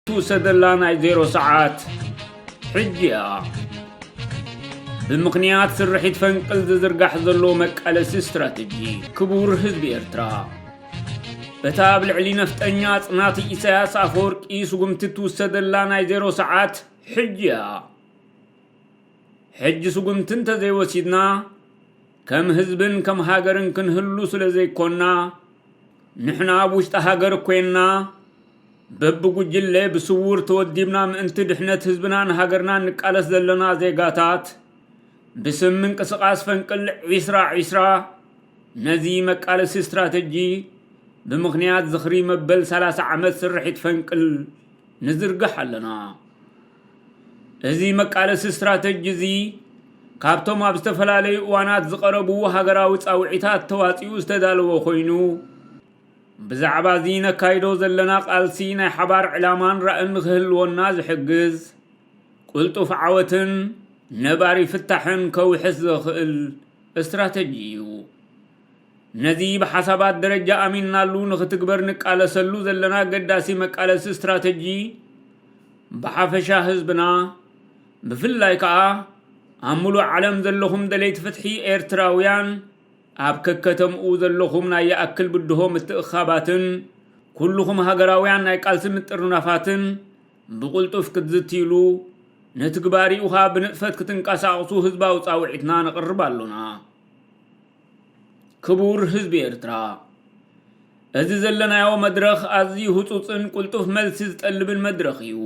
ትውሰደላ ናይ ዜሮ ሰዓት ሕጂ እያ ብምኽንያት ስርሒት ፈንቅል ዝዝርጋሕ ዘሎ መቃለሲ ስትራተጂ ክቡር ህዝቢ ኤርትራ በታ ኣብ ልዕሊ ነፍጠኛ ኣጽናቲ ኢሳያስ ኣፈወርቂ ስጉምቲ ትውሰደላ ናይ ዜሮ ሰዓት ሕጂ እያ። ሕጂ ስጉምቲ እንተዘይወሲድና ከም ህዝብን ከም ሃገርን ክንህሉ ስለ ዘይኮና ንሕና ኣብ ውሽጢ ሃገር ኮይንና በብጉጅለ ብስውር ተወዲብና ምእንቲ ድሕነት ህዝብናን ሃገርናን ንቃለስ ዘለና ዜጋታት ብስም ምንቅስቓስ ፈንቅል ዒስራ ዒስራ ነዚ መቃለሲ ስትራተጂ ብምኽንያት ዝኽሪ መበል ሰላሳ ዓመት ስርሒት ፈንቅል ንዝርግሕ ኣለና። እዚ መቃለሲ ስትራተጂ እዚ ካብቶም ኣብ ዝተፈላለዩ እዋናት ዝቐረቡ ሃገራዊ ጻውዒታት ተዋጺኡ ዝተዳለወ ኮይኑ ብዛዕባ እዚ ነካይዶ ዘለና ቃልሲ ናይ ሓባር ዕላማን ራእን ንክህልወና ዝሕግዝ ቁልጡፍ ዓወትን ነባሪ ፍታሕን ከውሕስ ዘኽእል እስትራተጂ እዩ። ነዚ ብሓሳባት ደረጃ ኣሚንናሉ ንኽትግበር ንቃለሰሉ ዘለና ኣገዳሲ መቃለሲ እስትራተጂ ብሓፈሻ ህዝብና ብፍላይ ከዓ ኣብ ሙሉእ ዓለም ዘለኹም ደለይቲ ፍትሒ ኤርትራውያን ኣብ ከከተምኡ ዘለኹም ናይ ይኣክል ብድሆ ምትእኻባትን ኩልኹም ሃገራውያን ናይ ቃልሲ ምጥርናፋትን ብቕልጡፍ ክትዝትይሉ፣ ንትግባሪኡኻ ብንጥፈት ክትንቀሳቕሱ ህዝባዊ ጻውዒትና ነቕርብ ኣሎና። ክቡር ህዝቢ ኤርትራ፣ እዚ ዘለናዮ መድረኽ ኣዝዩ ህጹጽን ቅልጡፍ መልሲ ዝጠልብን መድረኽ እዩ።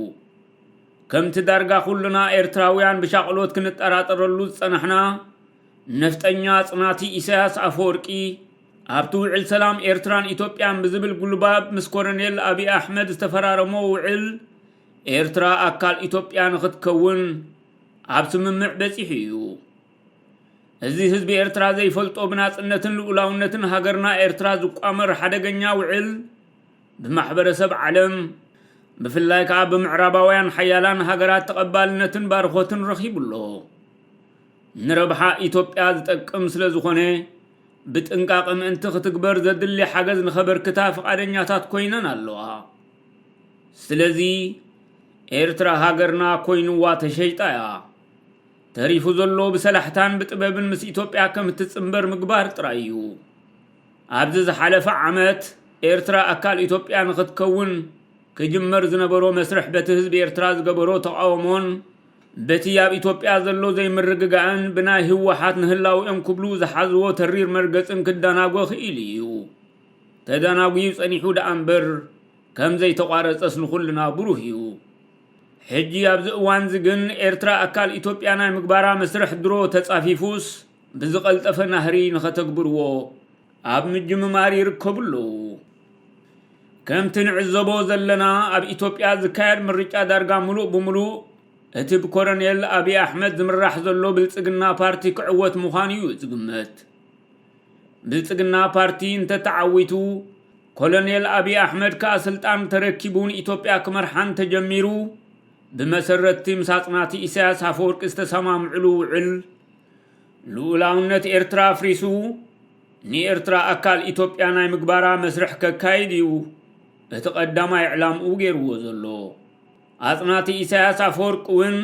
ከምቲ ዳርጋ ኩልና ኤርትራውያን ብሻቕሎት ክንጠራጠረሉ ዝጸናሕና፣ ነፍጠኛ ጽናቲ ኢሳያስ ኣፈወርቂ፣ ኣብቲ ውዕል ሰላም ኤርትራን ኢትዮጵያን ብዝብል ጉልባብ ምስ ኮረኔል ኣብዪ ኣሕመድ ዝተፈራረሞ ውዕል፣ ኤርትራ ኣካል ኢትዮጵያ ንኽትከውን ኣብ ስምምዕ በጺሑ እዩ። እዚ ህዝቢ ኤርትራ ዘይፈልጦ ብናጽነትን ልኡላውነትን ሃገርና ኤርትራ ዝቋመር ሓደገኛ ውዕል ብማሕበረሰብ ዓለም ብፍላይ ከኣ ብምዕራባውያን ሓያላን ሃገራት ተቐባልነትን ባርኾትን ረኺቡ ኣሎ። ንረብሓ ኢትዮጵያ ዝጠቅም ስለዝኾነ ብጥንቃቐ ምእንቲ ክትግበር ዘድሊ ሓገዝ ንኸበርክታ ፍቓደኛታት ኮይነን ኣለዋ። ስለዚ ኤርትራ ሃገርና ኮይኑዋ ተሸይጣ እያ። ተሪፉ ዘሎ ብሰላሕታን ብጥበብን ምስ ኢትዮጵያ ከም እትጽንበር ምግባር ጥራይ እዩ። ኣብዚ ዝሓለፈ ዓመት ኤርትራ ኣካል ኢትዮጵያ ንኽትከውን ክጅመር ዝነበሮ መስርሕ በቲ ህዝቢ ኤርትራ ዝገበሮ ተቓውሞን በቲ ኣብ ኢትዮጵያ ዘሎ ዘይምርግጋእን ብናይ ህወሓት ንህላውኦም ክብሉ ዝሓዝዎ ተሪር መርገጽን ክደናጎ ክኢሉ እዩ። ተደናጉዩ ጸኒሑ ደኣ እምበር ከም ዘይተቋረጸስ ንኹልና ብሩህ እዩ። ሕጂ ኣብዚ እዋንዚ ግን ኤርትራ ኣካል ኢትዮጵያ ናይ ምግባራ መስርሕ ድሮ ተጻፊፉስ ብዝቐልጠፈ ናህሪ ንኸተግብርዎ ኣብ ምጅምማር ይርከቡ ኣለዉ። ከምቲ ንዕዘቦ ዘለና ኣብ ኢትዮጵያ ዝካየድ ምርጫ ዳርጋ ምሉእ ብምሉእ እቲ ብኮረኔል ኣብይ ኣሕመድ ዝምራሕ ዘሎ ብልፅግና ፓርቲ ክዕወት ምዃኑ እዩ ዝግመት። ብልፅግና ፓርቲ እንተተዓዊቱ ኮሎኔል ኣብይ ኣሕመድ ከዓ ስልጣን ተረኪቡ ንኢትዮጵያ ክመርሓ እንተጀሚሩ ብመሰረትቲ ምስ ኣፅናቲ ኢሳያስ ኣፈወርቂ ዝተሰማምዕሉ ውዕል ልኡላውነት ኤርትራ ኣፍሪሱ ንኤርትራ ኣካል ኢትዮጵያ ናይ ምግባራ መስርሕ ከካይድ እዩ እቲ ቀዳማይ ዕላምኡ ገይርዎ ዘሎ። ኣጽናቲ ኢሳያስ ኣፈወርቂ እውን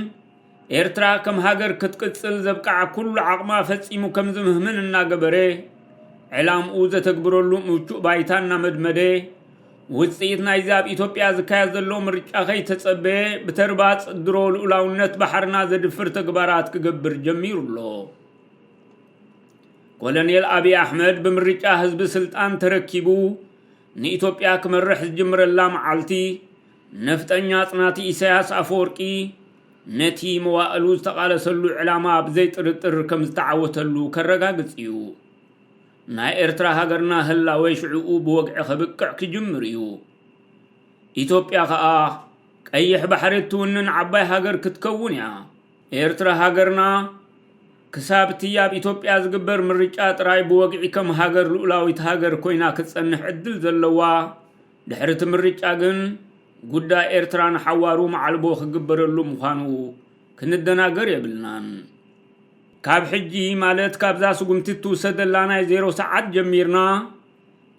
ኤርትራ ከም ሃገር ክትቅጽል ዘብቃዓ ኩሉ ዓቕማ ፈጺሙ ከም ዝምህምን እናገበረ ዕላምኡ ዘተግብረሉ ምቹእ ባይታ እናመድመደ ውጽኢት ናይዚ ኣብ ኢትዮጵያ ዝካየድ ዘሎ ምርጫ ከይተጸበየ ብተርባጽ ድሮ ልኡላውነት ባሕርና ዘድፍር ተግባራት ክገብር ጀሚሩ ኣሎ። ኮሎኔል ኣብዪ ኣሕመድ ብምርጫ ህዝቢ ስልጣን ተረኪቡ ንኢትዮጵያ ክመርሕ ዝጅምረላ መዓልቲ ነፍጠኛ ኣጽናቲ ኢሳያስ ኣፈወርቂ ነቲ መዋእሉ ዝተቓለሰሉ ዕላማ ብዘይ ጥርጥር ከም ዝተዓወተሉ ከረጋግጽ እዩ። ናይ ኤርትራ ሃገርና ህላዌ ሽዕኡ ብወግዒ ከብቅዕ ክጅምር እዩ። ኢትዮጵያ ከኣ ቀይሕ ባሕሪ እትውንን ዓባይ ሃገር ክትከውን እያ። ኤርትራ ሃገርና ክሳብ'ቲ ኣብ ኢትዮጵያ ዝግበር ምርጫ ጥራይ ብወግዒ ከም ሃገር ልኡላዊት ሃገር ኮይና ክትጸንሕ ዕድል ዘለዋ፣ ድሕሪ'ቲ ምርጫ ግን ጉዳይ ኤርትራ ንሓዋሩ መዓልቦ ክግበረሉ ምዃኑ ክንደናገር የብልናን። ካብ ሕጂ ማለት ካብዛ ስጉምቲ እትውሰደላ ናይ ዜሮ ሰዓት ጀሚርና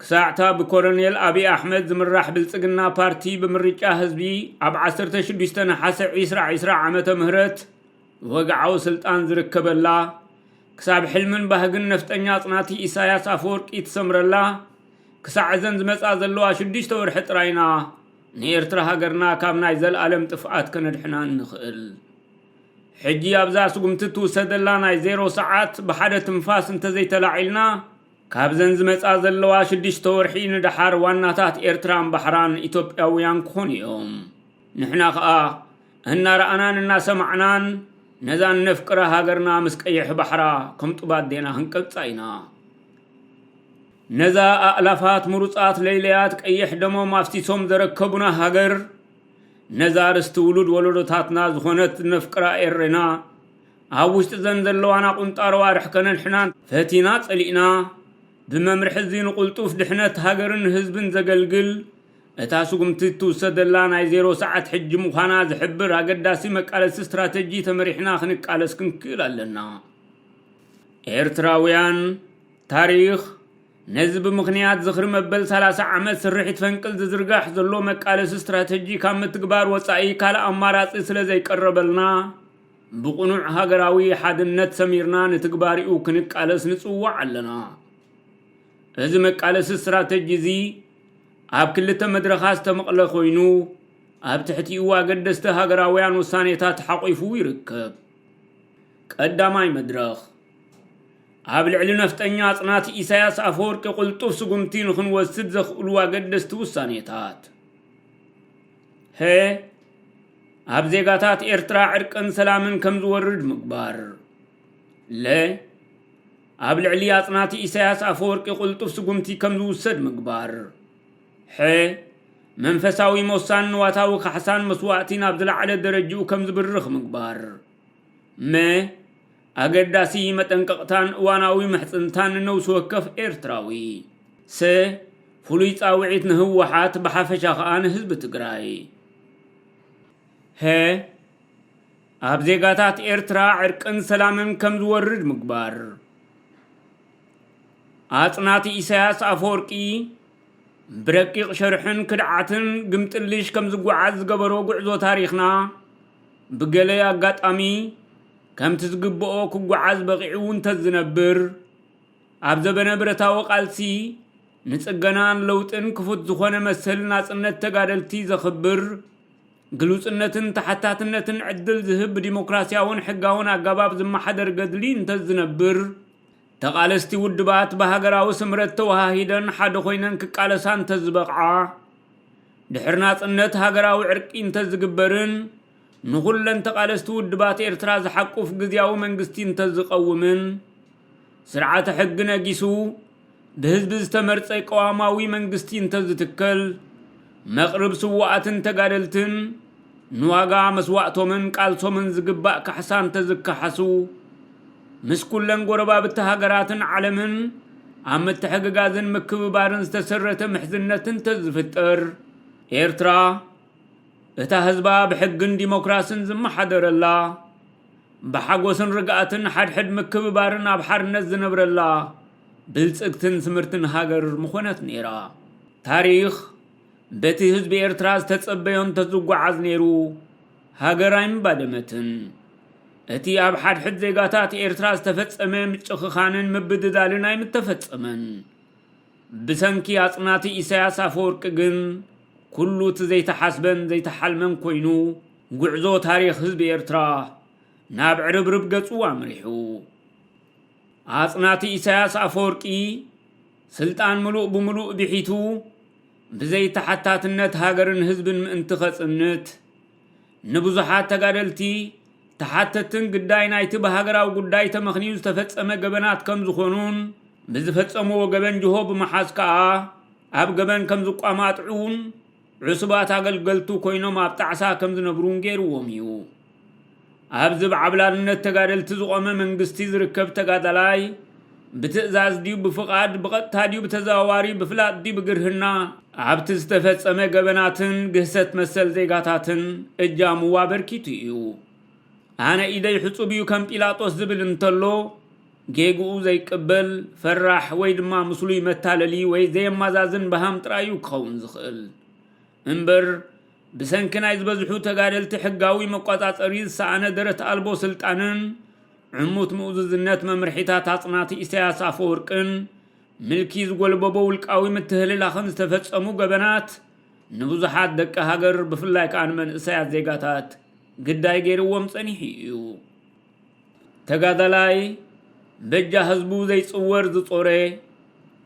ክሳዕ'ታ ብኮረኔል ኣብይ ኣሕመድ ዝምራሕ ብልጽግና ፓርቲ ብምርጫ ህዝቢ ኣብ ዓሰርተ ሽዱሽተ ነሓሰ ዒስራ ዒስራ ዓመተ ምህረት ወግዓዊ ስልጣን ዝርከበላ ክሳብ ሕልምን ባህግን ነፍጠኛ ኣጽናቲ ኢሳያስ ኣፈወርቂ ትሰምረላ ክሳዕ እዘን ዝመጻ ዘለዋ ሽዱሽተ ወርሒ ጥራይ ኢና ንኤርትራ ሃገርና ካብ ናይ ዘልኣለም ጥፍኣት ከነድሕና እንኽእል። ሕጂ ኣብዛ ስጉምቲ እትውሰደላ ናይ ዜሮ ሰዓት ብሓደ ትንፋስ እንተዘይተላዒልና ካብዘን ዝመጻ ዘለዋ ሽዱሽተ ወርሒ ንደሓር ዋናታት ኤርትራን ባሕራን ኢትዮጵያውያን ክኾኑ እዮም። ንሕና ከኣ እናረኣናን እናሰማዕናን ነዛ እነፍቅራ ሃገርና ምስ ቀይሕ ባሕራ ከም ጡብ ኣዴና ክንቀብጻ ኢና። ነዛ ኣእላፋት ምሩጻት ለይለያት ቀይሕ ደሞም ኣፍሲሶም ዘረከቡና ሃገር ነዛ ርስቲ ውሉድ ወለዶታትና ዝኾነት ነፍቅራ ኤሬና፣ ኣብ ውሽጢ'ዘን ዘለዋና ቁንጣሮ ኣርሕ ከነድሕናን ፈቲና ጸሊእና፣ ብመምርሒ'ዚ ንቁልጡፍ ድሕነት ሃገርን ህዝብን ዘገልግል፣ እታ ስጉምቲ እትውሰደላ ናይ ዜሮ ሰዓት ሕጂ ምዃና ዝሕብር ኣገዳሲ መቃለሲ ስትራተጂ ተመሪሕና ክንቃለስ ክንክእል ኣለና። ኤርትራውያን፣ ታሪኽ፣ ነዚ ብምኽንያት ዝኽሪ መበል ሰላሳ ዓመት ስርሒት ፈንቅል ዝዝርጋሕ ዘሎ መቃለሲ ስትራተጂ ካብ ምትግባር ወፃኢ ካልእ ኣማራፂ ስለዘይቀረበልና ብቕኑዕ ሃገራዊ ሓድነት ሰሚርና ንትግባሪኡ ክንቃለስ ንፅዋዕ ኣለና። እዚ መቃለሲ ስትራተጂ እዚ ኣብ ክልተ መድረኻት ዝተመቕለ ኮይኑ ኣብ ትሕቲኡ ኣገደስቲ ሃገራውያን ውሳኔታት ሓቒፉ ይርከብ። ቀዳማይ መድረኽ ኣብ ልዕሊ ነፍጠኛ ኣጽናቲ ኢሳያስ ኣፈወርቂ ቅልጡፍ ስጉምቲ ንኽንወስድ ዘኽእሉ ኣገደስቲ ውሳኔታት ሀ ኣብ ዜጋታት ኤርትራ ዕርቅን ሰላምን ከም ዝወርድ ምግባር ለ ኣብ ልዕሊ ኣጽናቲ ኢሳያስ ኣፈወርቂ ቅልጡፍ ስጉምቲ ከም ዝውሰድ ምግባር ሐ መንፈሳዊ ሞሳን ንዋታዊ ካሕሳን መስዋእቲ ናብ ዝለዓለ ደረጅኡ ከም ዝብርኽ ምግባር መ ኣገዳሲ መጠንቀቕታን እዋናዊ ምሕጽንታን ንነብሲ ወከፍ ኤርትራዊ። ሰ ፍሉይ ጻውዒት ንህወሓት ብሓፈሻ ከኣ ንህዝቢ ትግራይ። ሀ ኣብ ዜጋታት ኤርትራ ዕርቅን ሰላምን ከም ዝወርድ ምግባር። ኣጽናቲ ኢሳያስ ኣፈወርቂ ብረቂቕ ሸርሕን ክድዓትን ግምጥልሽ ከም ዝጓዓዝ ዝገበሮ ጉዕዞ ታሪኽና ብገለ ኣጋጣሚ ከምቲ ዝግበኦ ክጓዓዝ በቒዑ እንተዝነብር፣ ኣብ ዘበነ ብረታዊ ቃልሲ ንጽገናን ለውጥን ክፉት ዝኾነ መሰል ናጽነት ተጋደልቲ ዘኽብር፣ ግሉጽነትን ተሓታትነትን ዕድል ዝህብ ብዲሞክራስያውን ሕጋውን ኣገባብ ዝመሓደር ገድሊ እንተዝነብር፣ ተቓለስቲ ውድባት ብሃገራዊ ስምረት ተወሃሂደን ሓደ ኮይነን ክቃለሳ እንተዝበቕዓ፣ ድሕሪ ናጽነት ሃገራዊ ዕርቂ እንተዝግበርን፣ ንኹለን ተቓለስቲ ውድባት ኤርትራ ዝሓቁፍ ግዝያዊ መንግስቲ እንተዝቐውምን፣ ስርዓተ ሕጊ ነጊሱ ብህዝቢ ዝተመርጸ ቅዋማዊ መንግስቲ እንተዝትከል፣ መቕርብ ስዉኣትን ተጋደልትን ንዋጋ መስዋእቶምን ቃልሶምን ዝግባእ ካሕሳ እንተዝካሓሱ፣ ምስ ኩለን ጎረባብቲ ሃገራትን ዓለምን ኣብ ምትሕግጋዝን ምክብባርን ዝተሰረተ ምሕዝነት እንተዝፍጠር፣ ኤርትራ፣ እታ ህዝባ ብሕግን ዲሞክራስን ዝመሓደረላ፣ ብሓጎስን ርግኣትን ሓድሕድ ምክብባርን ኣብ ሓርነት ዝነብረላ ብልጽግትን ስምርትን ሃገር ምኾነት ነይራ። ታሪኽ በቲ ህዝቢ ኤርትራ ዝተጸበዮ እንተዝጓዓዝ ነይሩ ሃገር ኣይምባደመትን። እቲ ኣብ ሓድሕድ ዜጋታት ኤርትራ ዝተፈጸመ ምጭኽኻንን ምብድዳልን ኣይምተፈጸመን። ብሰንኪ ኣጽናቲ ኢሳያስ ኣፈወርቂ ግን ኩሉ እቲ ዘይተሓስበን ዘይተሓልመን ኮይኑ ጉዕዞ ታሪኽ ህዝቢ ኤርትራ ናብ ዕርብርብ ገጹ ኣምሪሑ። ኣጽናቲ ኢሳያስ ኣፈወርቂ ስልጣን ምሉእ ብምሉእ ብሒቱ ብዘይተሓታትነት ሃገርን ህዝብን ምእንቲ ከጽንት ንብዙሓት ተጋደልቲ፣ ተሓተትትን ግዳይ ናይቲ ብሃገራዊ ጉዳይ ተመኽንዩ ዝተፈጸመ ገበናት ከም ዝኾኑን፣ ብዝፈጸምዎ ገበን ጅሆ ብምሓዝ ከኣ ኣብ ገበን ከም ዝቋማጥዑን፣ ዕሱባት ኣገልገልቱ ኮይኖም ኣብ ጣዕሳ ከም ዝነብሩን ገይርዎም እዩ። ኣብዚ ብዓብላልነት ተጋደልቲ ዝቖመ መንግስቲ ዝርከብ ተጋዳላይ፣ ብትእዛዝ ድዩ ብፍቓድ፣ ብቐጥታ ድዩ ብተዘዋዋሪ፣ ብፍላጥ ድዩ ብግርህና፣ ኣብቲ ዝተፈጸመ ገበናትን ግህሰት መሰል ዜጋታትን እጃሙ ኣበርኪቱ እዩ። ኣነ ኢደይ ሕጹብ እዩ ከም ጲላጦስ ዝብል እንተሎ፣ ጌግኡ ዘይቅበል፣ ፈራሕ ወይ ድማ ምስሉይ መታለሊ ወይ ዘየማዛዝን በሃም ጥራይ እዩ ክኸውን ዝኽእል። እምበር ብሰንኪ ናይ ዝበዝሑ ተጋደልቲ ሕጋዊ መቆጻጸሪ ዝሰኣነ ደረት ኣልቦ ስልጣንን ዕሙት ምኡዝዝነት መምርሒታት ኣጽናቲ ኢሳያስ ኣፈወርቅን ምልኪ ዝጎልበቦ ውልቃዊ ምትህልላኽን ዝተፈጸሙ ገበናት ንብዙሓት ደቂ ሃገር ብፍላይ ከኣ ንመንእሰያት ዜጋታት ግዳይ ገይርዎም ጸኒሑ ኢዩ። ተጋዳላይ በጃ ህዝቡ ዘይጽወር ዝጾረ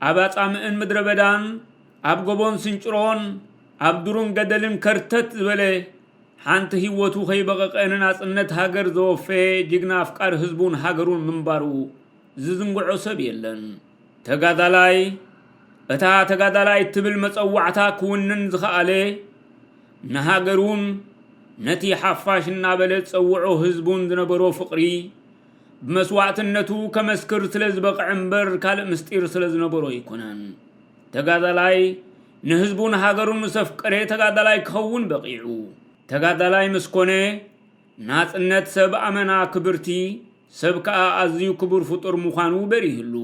ኣብ ኣጻምእን ምድረ በዳን ኣብ ጎቦን ስንጭሮን ኣብ ዱሩን ገደልን ከርተት ዝበለ ሓንቲ ህይወቱ ከይበቐቐ ንናጽነት ሃገር ዘወፈየ ጅግና ኣፍቃሪ ህዝቡን ሃገሩን ምንባሩ ዝዝንግዖ ሰብ የለን። ተጋዳላይ እታ ተጋዳላይ እትብል መጸዋዕታ ክውንን ዝኸኣለ ንሃገሩን ነቲ ሓፋሽ እናበለ ዝጸውዖ ህዝቡን ዝነበሮ ፍቕሪ፣ ብመስዋእትነቱ ከመስክር ስለ ዝበቕዐ እምበር ካልእ ምስጢር ስለ ዝነበሮ ኣይኮነን። ተጋዳላይ ንህዝቡን ሃገሩን ምስ ኣፍቀረ ተጋዳላይ ክኸውን በቒዑ። ተጋዳላይ ምስ ኮነ ናጽነት ሰብ ኣመና ክብርቲ፣ ሰብ ከኣ ኣዝዩ ክቡር ፍጡር ምዃኑ በሪህሉ።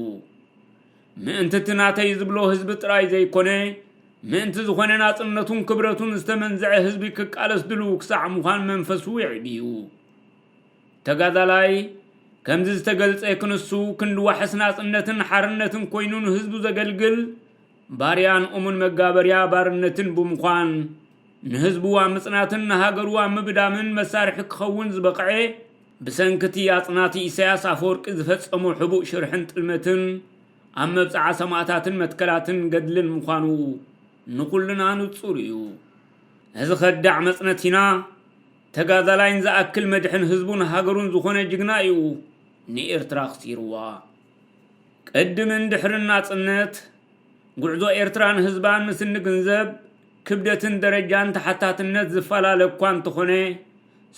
ምእንቲ እቲ ናተይ ዝብሎ ህዝቢ ጥራይ ዘይኮነ፣ ምእንቲ ዝኾነ ናጽነቱን ክብረቱን ዝተመንዘዐ ህዝቢ ክቃለስ ድሉው ክሳዕ ምዃን መንፈሱ የዕብዩ። ተጋዳላይ ከምዚ ዝተገልጸ ክንሱ ክንዲ ዋሕስ ናጽነትን ሓርነትን ኮይኑ ንህዝቡ ዘገልግል ባርያን እሙን መጋበርያ ባርነትን ብምዃን ንህዝቡ ኣብ ምጽናትን ንሃገሩ ኣብ ምብዳምን መሳርሒ ክኸውን ዝበቕዐ ብሰንኪ'ቲ ኣጽናቲ ኢሳያስ ኣፈወርቂ ዝፈጸሞ ሕቡእ ሽርሕን ጥልመትን፣ ኣብ መብጽዓ ሰማእታትን መትከላትን ገድልን ምዃኑ ንኹልና ንጹር እዩ። ነዚ ከዳዕ መጽነቲና፣ ተጋዳላይ ንዝኣክል መድሕን ህዝቡን ሃገሩን ዝኾነ ጅግና እዩ ንኤርትራ ኣኽሲሩዋ። ቅድምን ድሕርን ናጽነት፣ ጉዕዞ ኤርትራን ህዝባን ምስ እንግንዘብ፣ ክብደትን ደረጃን ተሓታትነት ዝፈላለ እኳ እንተኾነ፣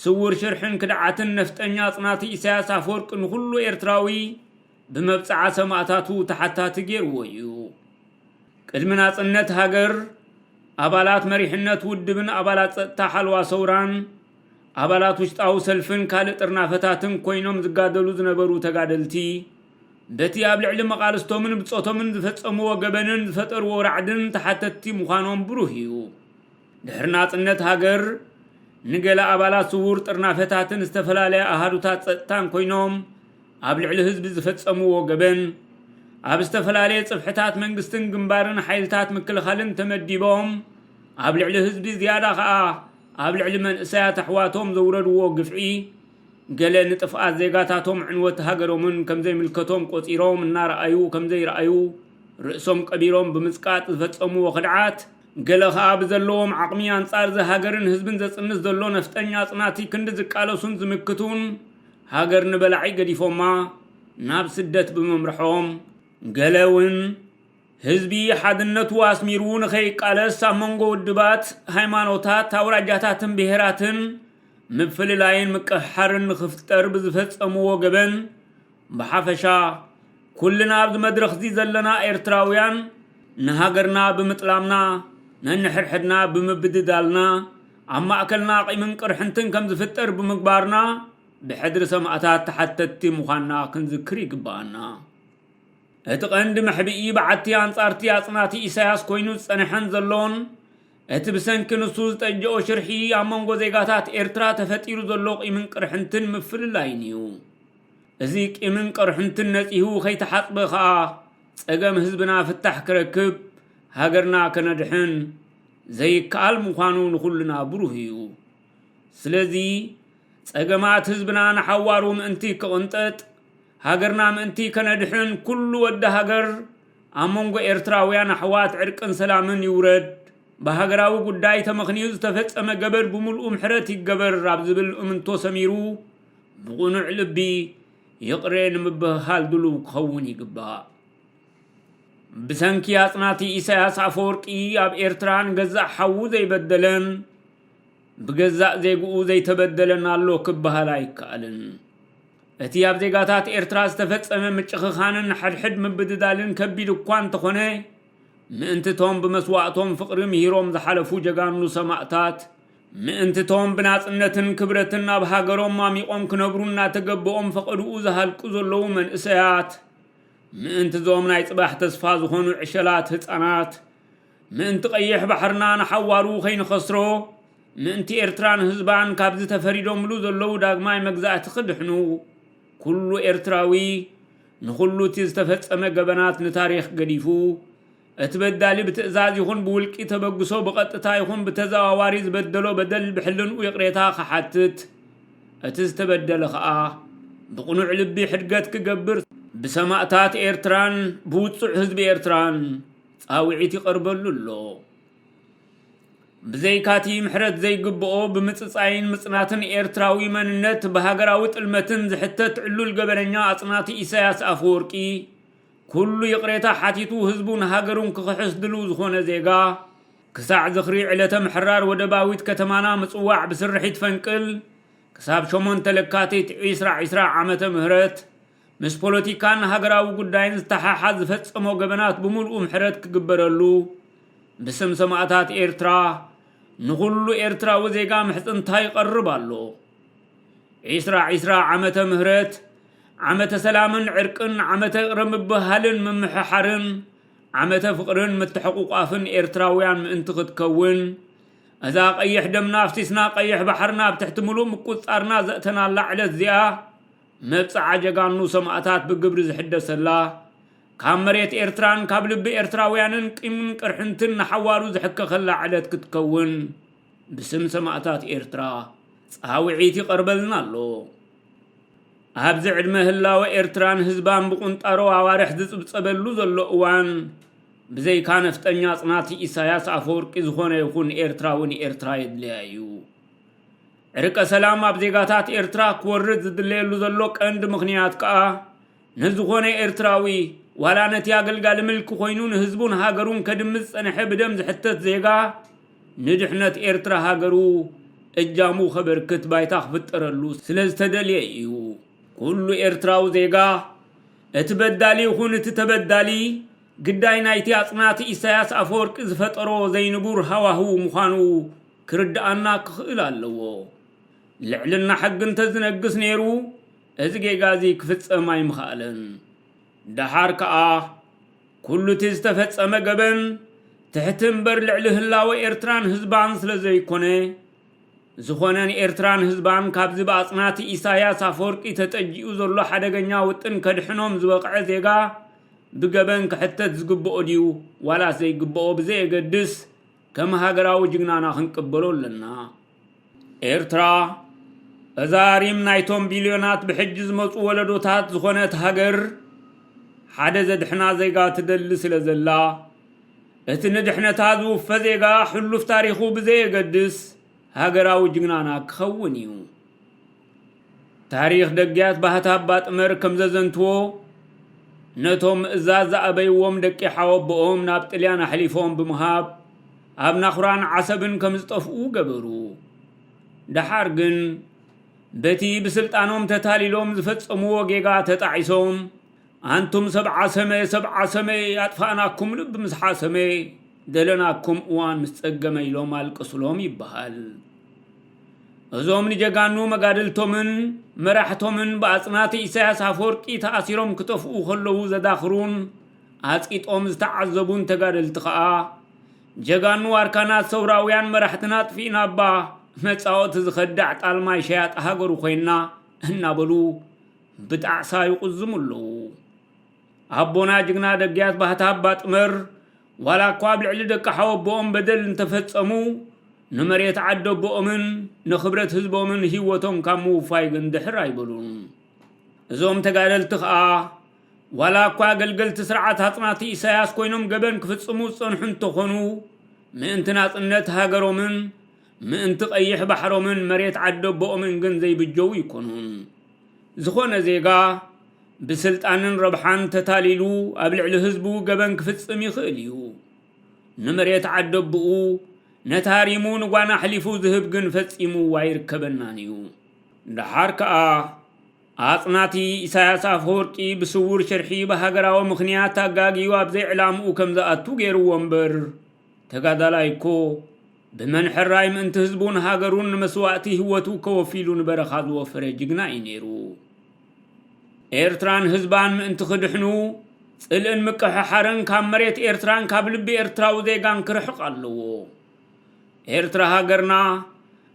ስውር ሽርሕን ክድዓትን ነፍጠኛ ኣጽናቲ ኢሳያስ ኣፈወርቂ ንኹሉ ኤርትራዊ ብመብጽዓ ሰማእታቱ ተሓታቲ ገይርዎ እዩ። ቅድሚ ናጽነት ሃገር ኣባላት መሪሕነት ውድብን ኣባላት ጸጥታ ሓልዋ ሰውራን ኣባላት ውሽጣዊ ሰልፍን ካልእ ጥርናፈታትን ኮይኖም ዝጋደሉ ዝነበሩ ተጋደልቲ በቲ ኣብ ልዕሊ መቓልስቶምን ብጾቶምን ዝፈጸምዎ ገበንን ዝፈጠርዎ ራዕድን ተሓተትቲ ምዃኖም ብሩህ እዩ። ድሕሪ ናጽነት ሃገር ንገለ ኣባላት ስዉር ጥርናፈታትን ዝተፈላለያ ኣሃዱታት ጸጥታን ኮይኖም ኣብ ልዕሊ ህዝቢ ዝፈጸምዎ ገበን ኣብ ዝተፈላለየ ጽፍሕታት መንግስትን ግንባርን ሓይልታት ምክልኻልን ተመዲቦም ኣብ ልዕሊ ህዝቢ ዝያዳ ከኣ ኣብ ልዕሊ መንእሰያት ኣሕዋቶም ዘውረድዎ ግፍዒ ገለ ንጥፍኣት ዜጋታቶም ዕንወት ሃገሮምን ከም ዘይምልከቶም ቆጺሮም እናረኣዩ ከም ዘይረኣዩ ርእሶም ቀቢሮም ብምጽቃጥ ዝፈጸምዎ ክድዓት ገለ ከኣ ብዘለዎም ዓቕሚ ኣንጻር እዚ ሃገርን ህዝብን ዘጽንት ዘሎ ነፍጠኛ ኣጽናቲ ክንዲ ዝቃለሱን ዝምክቱን ሃገር ንበላዒ ገዲፎማ ናብ ስደት ብምምርሖም ገለ ውን ህዝቢ ሓድነቱ ኣስሚሩ ንኸይቃለስ ኣብ መንጎ ውድባት፣ ሃይማኖታት፣ ኣውራጃታትን ብሄራትን ምፍልላይን ምቅሕሓርን ንኽፍጠር ብዝፈጸምዎ ገበን ብሓፈሻ ኩልና ኣብዚ መድረኽዚ ዘለና ኤርትራውያን ንሃገርና ብምጥላምና ነንሕድሕድና ብምብድዳልና ኣብ ማእከልና ቂምን ቅርሕንትን ከም ዝፍጠር ብምግባርና ብሕድሪ ሰማእታት ተሓተትቲ ምዃንና ክንዝክር ይግበኣና። እቲ ቀንዲ መሕብኢ በዓቲ ኣንጻርቲ ኣጽናቲ ኢሳያስ ኮይኑ ዝጸንሐን ዘሎን እቲ ብሰንኪ ንሱ ዝጠጀኦ ሽርሒ ኣብ መንጎ ዜጋታት ኤርትራ ተፈጢሩ ዘሎ ቂምን ቅርሕንትን ምፍልላይን እዩ። እዚ ቂምን ቅርሕንትን ነጺሁ ከይተሓጽበ ከኣ ጸገም ህዝብና ፍታሕ ክረክብ ሃገርና ከነድሕን ዘይከኣል ምዃኑ ንኹልና ብሩህ እዩ። ስለዚ ጸገማት ህዝብና ንሓዋሩ ምእንቲ ክቕንጠጥ ሃገርና ምእንቲ ከነድሕን ኩሉ ወዲ ሃገር ኣብ መንጎ ኤርትራውያን ኣሕዋት ዕርቅን ሰላምን ይውረድ ብሃገራዊ ጉዳይ ተመኽንዩ ዝተፈጸመ ገበድ ብምልኡ ምሕረት ይገበር ኣብ ዝብል እምንቶ ሰሚሩ ብቕኑዕ ልቢ ይቕሬ ንምብህሃል ድሉው ክኸውን ይግባእ። ብሰንኪ ኣጽናቲ ኢሳያስ ኣፈወርቂ ኣብ ኤርትራ ንገዛእ ሓዉ ዘይበደለን ብገዛእ ዜግኡ ዘይተበደለን ኣሎ ክበሃል ኣይከኣልን። እቲ ኣብ ዜጋታት ኤርትራ ዝተፈጸመ ምጭኽኻንን ሓድሕድ ምብድዳልን ከቢድ እኳ እንተኾነ ምእንትቶም ብመስዋእቶም ፍቕሪ ምሂሮም ዝሓለፉ ጀጋኑ ሰማእታት ምእንቲ እቶም ብናጽነትን ክብረትን ኣብ ሃገሮም ማሚቖም ክነብሩ እናተገበኦም ፈቐድኡ ዝሃልቁ ዘለዉ መንእሰያት፣ ምእንቲ እዞም ናይ ጽባሕ ተስፋ ዝኾኑ ዕሸላት ህጻናት፣ ምእንቲ ቀይሕ ባሕርና ንሓዋሩ ከይንኸስሮ፣ ምእንቲ ኤርትራን ህዝባን ካብዚ ተፈሪዶምሉ ዘለዉ ዳግማይ መግዛእቲ ክድሕኑ፣ ኩሉ ኤርትራዊ ንኹሉ እቲ ዝተፈጸመ ገበናት ንታሪኽ ገዲፉ፣ እቲ በዳሊ ብትእዛዝ ይኹን ብውልቂ ተበግሶ ብቐጥታ ይኹን ብተዘዋዋሪ ዝበደሎ በደል ብሕልንኡ ይቕሬታ ክሓትት፣ እቲ ዝተበደለ ከኣ ብቕኑዕ ልቢ ሕድገት ክገብር ብሰማእታት ኤርትራን ብውጹዕ ህዝቢ ኤርትራን ጻውዒት ይቐርበሉ ኣሎ። ብዘይካቲ ምሕረት ዘይግብኦ ብምጽጻይን ምጽናትን ኤርትራዊ መንነት ብሃገራዊ ጥልመትን ዝሕተት ዕሉል ገበነኛ ኣጽናቲ ኢሳያስ ኣፈወርቂ፣ ኩሉ ይቕሬታ ሓቲቱ ህዝቡን ሃገሩን ክኽሕስ ድሉው ዝኾነ ዜጋ፣ ክሳዕ ዝኽሪ ዕለተ ምሕራር ወደባዊት ከተማና ምጽዋዕ ብስርሒት ፈንቅል ክሳብ ሸሞንተ ለካቲት ዒስራ ዒስራ ዓመተ ምህረት ምስ ፖለቲካን ሃገራዊ ጉዳይን ዝተሓሓዝ ዝፈጸሞ ገበናት ብምሉኡ ምሕረት ክግበረሉ ብስም ሰማእታት ኤርትራ ንኹሉ ኤርትራዊ ዜጋ ምሕጽንታ ይቐርብ ኣሎ። ዒስራ ዒስራ ዓመተ ምህረት ዓመተ ሰላምን ዕርቅን ዓመተ እቕረ ምብህሃልን ምምሕሓርን ዓመተ ፍቕርን ምትሕቑቋፍን ኤርትራውያን ምእንቲ ክትከውን እዛ ቀይሕ ደምና ኣፍሲስና ቀይሕ ባሕርና ኣብ ትሕቲ ምሉእ ምቁጽጻርና ዘእተናላ ዕለት እዚኣ መብጽዓ ጀጋኑ ሰማእታት ብግብሪ ዝሕደሰላ ካብ መሬት ኤርትራን ካብ ልቢ ኤርትራውያንን ቂምን ቅርሕንትን ንሓዋሩ ዝሕከኸላ ዕለት ክትከውን ብስም ሰማእታት ኤርትራ ጻውዒት ይቐርበልና ኣሎ። ኣብዚ ዕድመ ህላወ ኤርትራን ህዝባን ብቑንጣሮ ኣዋርሕ ዝጽብጸበሉ ዘሎ እዋን፣ ብዘይካ ነፍጠኛ ጽናት ኢሳያስ ኣፈወርቂ ዝኾነ ይኹን ኤርትራዊ ንኤርትራ የድልያ እዩ። ዕርቀ ሰላም ኣብ ዜጋታት ኤርትራ ክወርድ ዝድለየሉ ዘሎ ቀንዲ ምኽንያት ከኣ ንዝኾነ ኤርትራዊ፣ ዋላ ነቲ ኣገልጋሊ ምልኪ ኮይኑ ንህዝቡን ሃገሩን ከድሚ ዝጸንሐ ብደም ዝሕተት ዜጋ፣ ንድሕነት ኤርትራ ሃገሩ እጃሙ ከበርክት ባይታ ክፍጠረሉ ስለ ዝተደልየ ኢዩ። ኩሉ ኤርትራዊ ዜጋ፣ እቲ በዳሊ ይኹን እቲ ተበዳሊ፣ ግዳይ ናይቲ ኣጽናቲ ኢሳያስ ኣፈወርቂ ዝፈጠሮ ዘይንቡር ሃዋህው ምዃኑ ክርድኣና ክኽእል ኣለዎ። ልዕልና ሕጊ እንተዝነግስ ነይሩ፣ እዚ ጌጋ እዚ ክፍጸም ኣይምኸኣለን። ደሓር ከኣ ኩሉ እቲ ዝተፈጸመ ገበን ትሕቲ እምበር ልዕሊ ህላወ ኤርትራን ህዝባን ስለ ዘይኮነ፣ ዝኾነ ንኤርትራን ህዝባን ካብዚ ብኣጽናቲ ኢሳይያስ ኣፈወርቂ ተጠጂኡ ዘሎ ሓደገኛ ውጥን ከድሕኖም ዝበቕዐ ዜጋ ብገበን ክሕተት ዝግብኦ ድዩ ዋላስ ዘይግብኦ ብዘየገድስ ከም ሃገራዊ ጅግናና ክንቅበሎ ኣለና። ኤርትራ እዛ ሪም ናይቶም ቢልዮናት ብሕጂ ዝመጹ ወለዶታት ዝኾነት ሃገር ሓደ ዘድሕና ዜጋ ትደሊ ስለ ዘላ እቲ ንድሕነታ ዝውፈ ዜጋ ሕሉፍ ታሪኹ ብዘየገድስ ሃገራዊ ጅግናና ክኸውን እዩ። ታሪኽ ደግያት ባህታ ኣባ ጥመር ከም ዘዘንትዎ፣ ነቶም ምእዛዝ ዝኣበይዎም ደቂ ሓወቦኦም ናብ ጥልያን ኣሕሊፎም ብምሃብ ኣብ ናኹራን ዓሰብን ከም ዝጠፍኡ ገበሩ። ደሓር ግን በቲ ብስልጣኖም ተታሊሎም ዝፈጸምዎ ጌጋ ተጣዒሶም ኣንቱም ሰብ ዓሰመ ሰብ ዓሰመ ኣጥፋእናኩም ልብ ምስ ሓሰመ ደለናኩም እዋን ምስ ጸገመ ኢሎም ኣልቀሱሎም ይበሃል። እዞም ንጀጋኑ መጋድልቶምን መራሕቶምን ብኣጽናቲ ኢሳያስ ኣፈወርቂ ተኣሲሮም ክጠፍኡ ከለዉ ዘዳኽሩን ኣጽቂጦም ዝተዓዘቡን ተጋደልቲ ከኣ ጀጋኑ ዋርካናት ሰውራውያን መራሕትና ኣጥፊእናባ መጻወቲ ዝኸዳዕ ጣልማይ ሸያጢ ሃገሩ ኮይና እናበሉ ብጣዕሳ ይቑዝሙ ኣለዉ። ኣቦና ጅግና ደግያት ባህታ ኣባ ጥመር ዋላ እኳ ኣብ ልዕሊ ደቂ ሓወቦኦም በደል እንተፈጸሙ ንመሬት ዓደቦኦምን ንኽብረት ህዝቦምን ህይወቶም ካብ ምውፋይ ግን ድሕር ኣይበሉን እዞም ተጋደልቲ ኸኣ ዋላ እኳ ኣገልገልቲ ስርዓት ኣጽናቲ ኢሳያስ ኮይኖም ገበን ክፍጽሙ ዝጸንሑ እንተኾኑ ምእንቲ ናጽነት ሃገሮምን ምእንቲ ቀይሕ ባሕሮምን መሬት ዓደቦኦምን ግን ዘይብጀው ይኮኑን ዝኾነ ዜጋ ብስልጣንን ረብሓን ተታሊሉ ኣብ ልዕሊ ህዝቡ ገበን ክፍጽም ይኽእል እዩ። ንመሬት ዓደቦኡ ነቲ ሃሪሙ ንጓና ኣሕሊፉ ዝህብ ግን ፈጺሙ ኣይርከበናን እዩ። ደሓር ከኣ ኣጽናቲ ኢሳያስ ኣፈወርቂ ብስውር ሽርሒ ብሃገራዊ ምኽንያት ኣጋግዩ ኣብ ዘይዕላምኡ ከም ዝኣቱ ገይርዎ እምበር፣ ተጋዳላይ እኮ ብመን ሕራይ ምእንቲ ህዝቡን ሃገሩን ንመስዋእቲ ህይወቱ ከወፊሉ ንበረኻ ዝወፈረ ጅግና እዩ ነይሩ። ኤርትራን ህዝባን ምእንቲ ክድሕኑ ጽልእን ምቅሕሓርን ካብ መሬት ኤርትራን ካብ ልቢ ኤርትራዊ ዜጋን ክርሕቕ ኣለዎ። ኤርትራ ሃገርና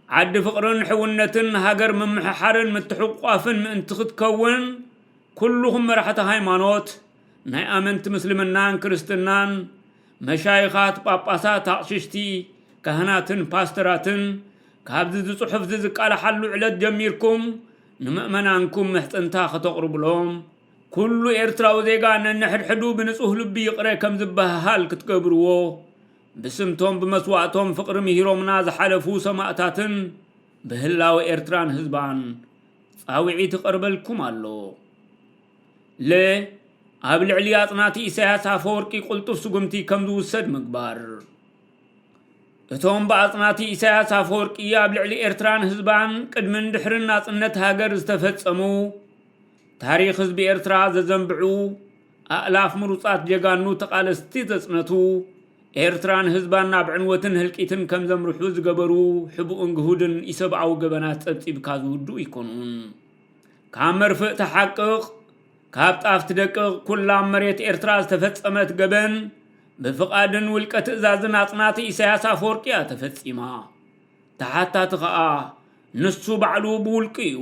ዓዲ ፍቕርን ሕውነትን ሃገር ምምሕሓርን ምትሕቋፍን ምእንቲ ክትከውን ኩሉኹም መራሕቲ ሃይማኖት ናይ ኣመንቲ ምስልምናን ክርስትናን መሻይኻት፣ ጳጳሳት፣ ኣቕሽሽቲ፣ ካህናትን ፓስተራትን ካብዚ ዝጽሑፍዚ ዝቃላሓሉ ዕለት ጀሚርኩም ንመእመናንኩም ምሕጽንታ ከተቕርቡሎም ኩሉ ኤርትራዊ ዜጋ ነንሕድሕዱ ብንጹህ ልቢ ይቕረ ከም ዝበሃሃል ክትገብርዎ ብስምቶም ብመስዋእቶም ፍቕሪ ምሂሮምና ዝሓለፉ ሰማእታትን ብህላወ ኤርትራን ህዝባን ጻውዒት ይቐርበልኩም ኣሎ። ለ። ኣብ ልዕሊ ኣጽናቲ ኢሳያስ ኣፈወርቂ ቅልጡፍ ስጉምቲ ከም ዝውሰድ ምግባር። እቶም ብኣጽናቲ ኢሳያስ ኣፈወርቂ ኣብ ልዕሊ ኤርትራን ህዝባን ቅድምን ድሕርን ናጽነት ሃገር ዝተፈጸሙ ታሪኽ ህዝቢ ኤርትራ ዘዘንብዑ ኣእላፍ ምሩጻት ጀጋኑ ተቓለስቲ ዘጽነቱ ኤርትራን ህዝባን ናብ ዕንወትን ህልቂትን ከም ዘምርሑ ዝገበሩ ሕቡእን ግሁድን ኢሰብኣዊ ገበናት ጸብጺብካ ዝውድኡ ኣይኮኑን። ካብ መርፍእ ተሓቅቕ ካብ ጣፍ ትደቅቕ ኩላ ኣብ መሬት ኤርትራ ዝተፈጸመት ገበን ብፍቓድን ውልቀ ትእዛዝን ኣጽናቲ ኢሳያስ ኣፈወርቂ እያ ተፈጺማ ተሓታቲ ኸኣ ንሱ ባዕሉ ብውልቁ እዩ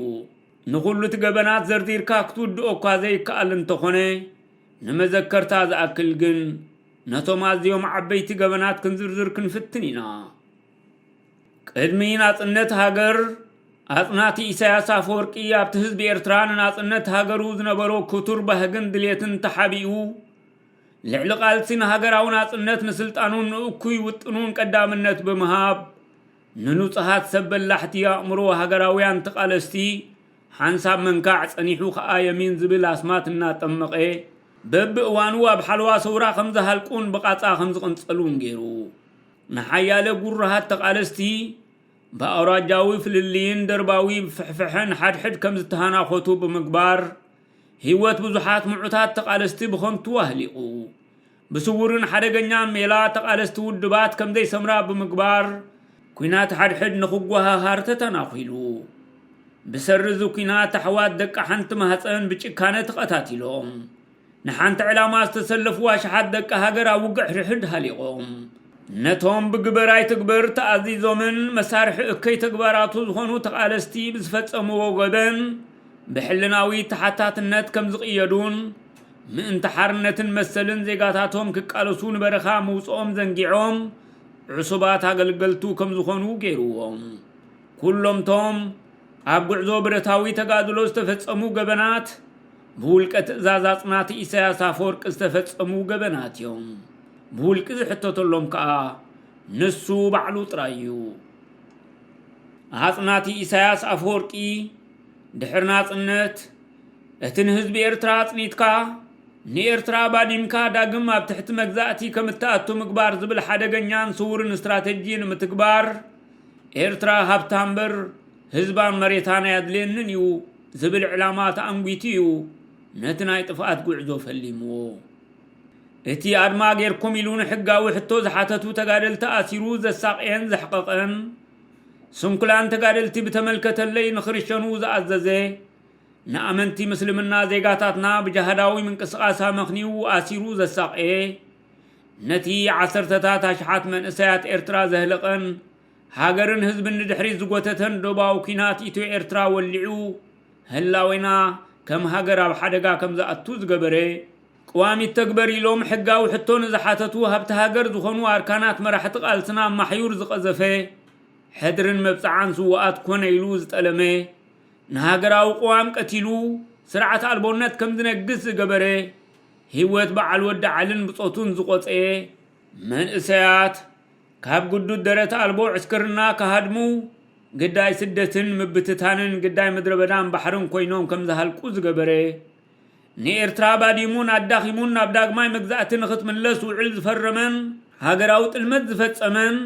ንኹሉ እቲ ገበናት ዘርዚርካ ክትውድኦ እኳ ዘይከኣል እንተኾነ ንመዘከርታ ዝኣክል ግን ነቶም ኣዝዮም ዓበይቲ ገበናት ክንዝርዝር ክንፍትን ኢና ቅድሚ ናጽነት ሃገር ኣጽናቲ ኢሳያስ ኣፈወርቂ ኣብቲ ህዝቢ ኤርትራ ንናጽነት ሃገሩ ዝነበሮ ክቱር ባህግን ድሌትን ተሓቢኡ ልዕሊ ቃልሲ ንሃገራዊ ናጽነት ንስልጣኑን ንእኩይ ውጥኑን ቀዳምነት ብምሃብ ንንጹሃት ሰብ በላሕቲ ኣእምሮ ሃገራውያን ተቓለስቲ ሓንሳብ መንካዕ ጸኒሑ ከኣ የሚን ዝብል ኣስማት እናጠመቐ በብእዋኑ ኣብ ሓለዋ ሰውራ ከም ዝሃልቁን ብቓጻ ከም ዝቕንጸሉን ገይሩ። ንሓያለ ጉሩሃት ተቓለስቲ ብኣውራጃዊ ፍልልይን ደርባዊ ፍሕፍሐን ሓድሕድ ከም ዝተሃናኾቱ ብምግባር ህይወት ብዙሓት ምዑታት ተቓለስቲ ብኸንቱ ኣህሊቑ። ብስውርን ሓደገኛን ሜላ ተቓለስቲ ውድባት ከም ዘይሰምራ ብምግባር ኲናት ሓድሕድ ንኽጓሃሃር ተተናኺሉ። ብሰሪ እዚ ኲናት ኣሕዋት ደቂ ሓንቲ ማህፀን ብጭካነ ተቐታቲሎም። ንሓንቲ ዕላማ ዝተሰለፉ ኣሽሓት ደቂ ሃገር ኣብ ውግዕ ሕድሕድ ሃሊቖም። ነቶም ብግበር ኣይትግበር ተኣዚዞምን መሳርሒ እከይ ተግባራቱ ዝኾኑ ተቓለስቲ ብዝፈጸምዎ ገበን ብሕልናዊ ተሓታትነት ከም ዝቕየዱን ምእንቲ ሓርነትን መሰልን ዜጋታቶም ክቃለሱ ንበረኻ ምውጽኦም ዘንጊዖም ዕሱባት ኣገልገልቱ ከም ዝኾኑ ገይርዎም ኩሎምቶም ኣብ ጉዕዞ ብረታዊ ተጋድሎ ዝተፈጸሙ ገበናት ብውልቀ ትእዛዝ ኣጽናቲ ኢሳያስ ኣፈወርቂ ዝተፈጸሙ ገበናት እዮም። ብውልቂ ዝሕተተሎም ከኣ ንሱ ባዕሉ ጥራይ እዩ። ኣጽናቲ ኢሳያስ ኣፈወርቂ ድሕሪ ናጽነት እቲ ንህዝቢ ኤርትራ ኣጽኒትካ ንኤርትራ ባዲምካ ዳግም ኣብ ትሕቲ መግዛእቲ ከም እትኣቱ ምግባር ዝብል ሓደገኛን ስውርን ስትራተጂ ንምትግባር ኤርትራ ሃብታ እምበር ህዝባን መሬታን ኣየድልየንን እዩ ዝብል ዕላማ ተኣንጒቱ እዩ ነቲ ናይ ጥፍኣት ጉዕዞ ፈሊምዎ። እቲ ኣድማ ጌርኩም ኢሉ ንሕጋዊ ሕቶ ዝሓተቱ ተጋደልቲ ኣሲሩ ዘሳቕየን ዘሕቐቐን፣ ስንኩላን ተጋደልቲ ብተመልከተለይ ንኽርሸኑ ዝኣዘዘ፣ ንኣመንቲ ምስልምና ዜጋታትና ብጃሃዳዊ ምንቅስቓስ ኣመኽንዩ ኣሲሩ ዘሳቐየ፣ ነቲ ዓሰርተታት ኣሽሓት መንእሰያት ኤርትራ ዘህለቐን፣ ሃገርን ህዝብን ንድሕሪት ዝጎተተን ዶባዊ ኲናት ኢትዮ ኤርትራ ወሊዑ ህላዌና ከም ሃገር ኣብ ሓደጋ ከም ዝኣቱ ዝገበረ፣ ቅዋም ይተግበር ኢሎም ሕጋዊ ሕቶ ንዝሓተቱ ሃብቲ ሃገር ዝኾኑ ኣርካናት መራሕቲ ቃልስና ኣብ ማሕዩር ዝቐዘፈ፣ ሕድርን መብጽዓን ስዉኣት ኮነ ኢሉ ዝጠለመ፣ ንሃገራዊ ቅዋም ቀቲሉ ስርዓት ኣልቦነት ከም ዝነግስ ዝገበረ፣ ህይወት በዓል ወዲ ዓልን ብጾቱን ዝቖጸየ፣ መንእሰያት፣ ካብ ግዱድ ደረት ኣልቦ ዕስክርና ክሃድሙ፣ ግዳይ ስደትን ምብትታንን ግዳይ ምድረበዳን ባሕርን ኮይኖም ከም ዝሃልቁ ዝገበረ፣ ንኤርትራ ባዲሙን ኣዳኺሙን ናብ ዳግማይ መግዛእቲ ንኽትምለስ ውዕል ዝፈረመን ሃገራዊ ጥልመት ዝፈጸመን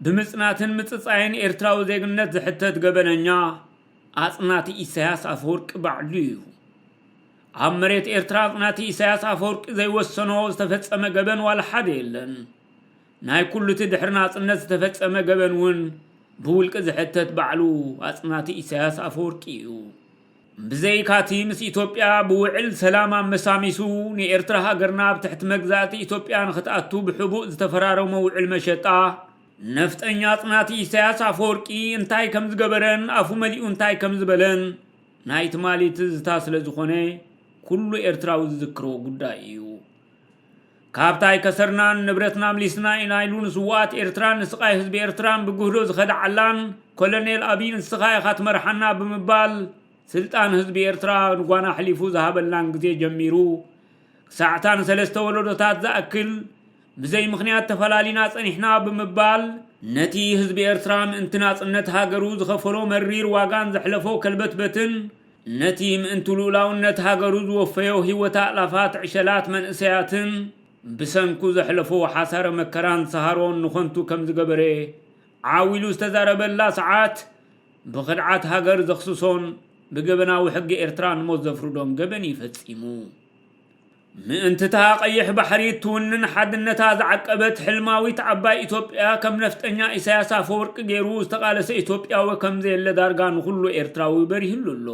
ብምጽናትን ምጽጻይን ኤርትራዊ ዜግነት ዝሕተት ገበነኛ ኣጽናቲ ኢሳያስ ኣፈወርቂ ባዕሉ እዩ። ኣብ መሬት ኤርትራ ኣጽናቲ ኢሳያስ ኣፈወርቂ ዘይወሰኖ ዝተፈጸመ ገበን ዋላ ሓደ የለን። ናይ ኩሉቲ ድሕሪ ናጽነት ዝተፈጸመ ገበን እውን ብውልቂ ዝሕተት ባዕሉ ኣጽናቲ ኢሳያስ ኣፈወርቂ እዩ። ብዘይካቲ ምስ ኢትዮጵያ ብውዕል ሰላም ኣመሳሚሱ ንኤርትራ ሃገርና ኣብ ትሕቲ መግዛእቲ ኢትዮጵያ ንክትኣቱ ብሕቡእ ዝተፈራረሞ ውዕል መሸጣ ነፍጠኛ ኣጽናቲ ኢሳያስ ኣፈወርቂ እንታይ ከም ዝገበረን ኣፉ መሊኡ እንታይ ከም ዝበለን ናይ ትማሊ ትዝታ ስለ ዝኾነ ኩሉ ኤርትራዊ ዝዝክሮ ጉዳይ እዩ። ካብታ ኣይከሰርናን ንብረትና ምሊስና ኢና ኢሉ ንስዉኣት ኤርትራን ንስቓይ ህዝቢ ኤርትራን ብግህዶ ዝኸደዓላን ኮለኔል ኣቢይ ንስኻ ኢኻ ትመርሓና ብምባል ስልጣን ህዝቢ ኤርትራ ንጓና ኣሕሊፉ ዝሃበላን ግዜ ጀሚሩ ክሳዕ'ታ ንሰለስተ ወለዶታት ዝኣክል ብዘይ ምኽንያት ተፈላሊና ጸኒሕና ብምባል ነቲ ህዝቢ ኤርትራ ምእንቲ ናጽነት ሃገሩ ዝኸፈሎ መሪር ዋጋን ዘሕለፎ ከልበትበትን ነቲ ምእንቲ ልኡላውነት ሃገሩ ዝወፈዮ ህይወት ኣእላፋት ዕሸላት መንእሰያትን ብሰንኩ ዘሕለፎ ሓሳረ መከራን ሰሃሮን ንኸንቱ ከም ዝገበረ ዓው ኢሉ ዝተዛረበላ ሰዓት ብኽድዓት ሃገር ዘኽስሶን ብገበናዊ ሕጊ ኤርትራ ንሞት ዘፍርዶን ገበን ኢዩ ፈጺሙ። ምእንቲ'ታ ቀይሕ ባሕሪ እትውንን ሓድነታ ዝዓቀበት ሕልማዊት ዓባይ ኢትዮጵያ ከም ነፍጠኛ ኢሳያስ ኣፈወርቂ ገይሩ ዝተቓለሰ ኢትዮጵያዊ ከምዘየለ ዳርጋ ንኹሉ ኤርትራዊ በሪህሉ ኣሎ።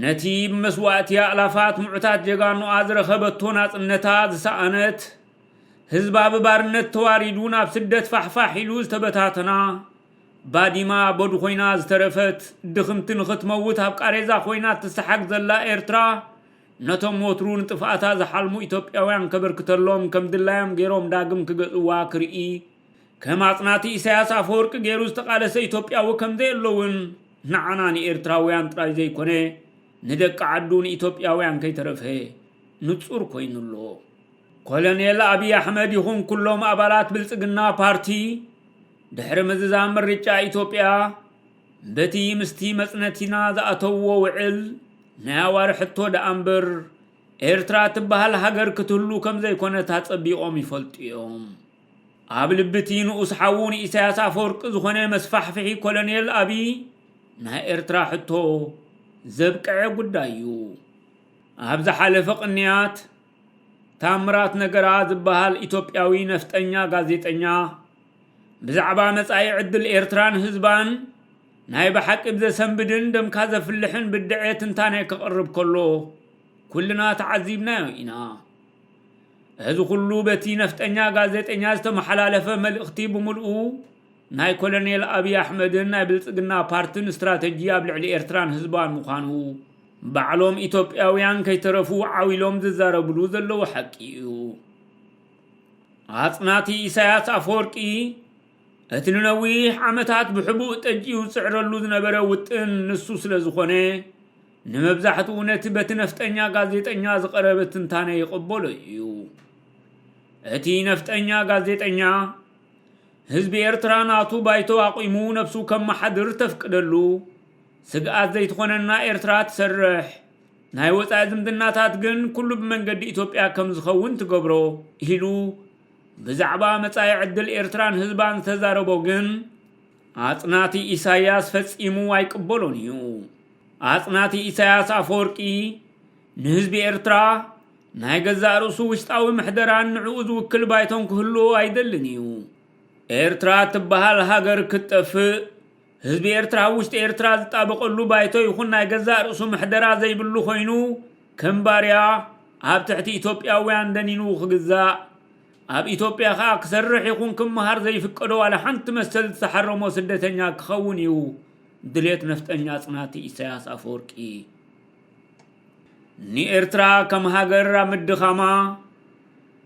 ነቲ ብመስዋእቲ ኣእላፋት ምዑታት ጀጋኑኣ ዝረኸበቶ ናጽነታ ዝሰኣነት፣ ህዝባ ብባርነት ተዋሪዱ ናብ ስደት ፋሕፋሕ ኢሉ ዝተበታተና፣ ባዲማ በዱ ኮይና ዝተረፈት፣ ድኽምቲ ንኽትመውት ኣብ ቃሬዛ ኮይና እትሰሓግ ዘላ ኤርትራ፣ ነቶም ወትሩ ንጥፍኣታ ዝሓልሙ ኢትዮጵያውያን ከበርክተሎም ከም ድላዮም ገይሮም ዳግም ክገዝእዋ ክርኢ ከም ኣጽናቲ ኢሳያስ ኣፈወርቂ ገይሩ ዝተቓለሰ ኢትዮጵያዊ ከም ዘየሎ እውን ንዓና ንኤርትራውያን ጥራይ ዘይኮነ ንደቂ ዓዱ ንኢትዮጵያውያን ከይተረፈ ንጹር ኮይኑ ኣሎ። ኮሎኔል ኣብይ ኣሕመድ ይኹን ኩሎም ኣባላት ብልጽግና ፓርቲ ድሕሪ ምዝዛም ምርጫ ኢትዮጵያ በቲ ምስቲ መጽነቲና ዝኣተውዎ ውዕል ናይ ኣዋር ሕቶ ደኣ እምበር ኤርትራ እትበሃል ሃገር ክትህሉ ከም ዘይኮነት ኣጸቢቖም ይፈልጡ እዮም። ኣብ ልቢ እቲ ንኡስ ሓዉ ንኢሳያስ ኣፈወርቂ ዝኾነ መስፋሕፍሒ ኮሎኔል ኣብይ ናይ ኤርትራ ሕቶ ዘብቀዐ ጉዳይ እዩ። ኣብ ዝሓለፈ ቅንያት ታምራት ነገራ ዝበሃል ኢትዮጵያዊ ነፍጠኛ ጋዜጠኛ ብዛዕባ መጻኢ ዕድል ኤርትራን ህዝባን ናይ ብሓቂ ብዘሰንብድን ደምካ ዘፍልሕን ብድዐ ትንታነ ከቕርብ ከሎ ኩልና ተዓዚብናዮ ኢና። እዚ ኩሉ በቲ ነፍጠኛ ጋዜጠኛ ዝተመሓላለፈ መልእኽቲ ብምልኡ ናይ ኮሎኔል ኣብዪ ኣሕመድን ናይ ብልጽግና ፓርትን ስትራተጂ ኣብ ልዕሊ ኤርትራን ህዝባን ምዃኑ ባዕሎም ኢትዮጵያውያን ከይተረፉ ዓው ኢሎም ዝዛረብሉ ዘለዉ ሓቂ እዩ። ኣጽናቲ ኢሳያስ ኣፈወርቂ እቲ ንነዊሕ ዓመታት ብሕቡእ ጠጅኡ ዝጽዕረሉ ዝነበረ ውጥን ንሱ ስለ ዝኾነ ንመብዛሕትኡ ነቲ በቲ ነፍጠኛ ጋዜጠኛ ዝቐረበ ትንታነ ይቕበሎ እዩ እቲ ነፍጠኛ ጋዜጠኛ ህዝቢ ኤርትራ ናቱ ባይቶ ኣቑሙ ነብሱ ከመሓድር ተፍቅደሉ ስግኣት ዘይትኾነና ኤርትራ ትሰርሕ ናይ ወጻኢ ዝምድናታት ግን ኩሉ ብመንገዲ ኢትዮጵያ ከም ዝኸውን ትገብሮ ኢሉ ብዛዕባ መጻኢ ዕድል ኤርትራን ህዝባን ዝተዛረቦ ግን ኣጽናቲ ኢሳያስ ፈጺሙ ኣይቅበሎን እዩ። ኣጽናቲ ኢሳያስ ኣፈወርቂ ንህዝቢ ኤርትራ ናይ ገዛእ ርእሱ ውሽጣዊ ምሕደራን ንዕኡ ዝውክል ባይቶን ክህልዎ ኣይደልን እዩ። ኤርትራ እትበሃል ሃገር ክትጠፍእ ህዝቢ ኤርትራ ኣብ ውሽጢ ኤርትራ ዝጣበቀሉ ባይቶ ይኹን ናይ ገዛእ ርእሱ ምሕደራ ዘይብሉ ኮይኑ ከም ባርያ ኣብ ትሕቲ ኢትዮጵያውያን ደኒኑ ክግዛእ ኣብ ኢትዮጵያ ከኣ ክሰርሕ ይኹን ክመሃር ዘይፍቀዶ ዋላ ሓንቲ መሰል ዝተሓረሞ ስደተኛ ክኸውን እዩ ድሌት ነፍጠኛ ጽናት ኢሳያስ ኣፈወርቂ። ንኤርትራ ከም ሃገር ኣብ ምድኻማ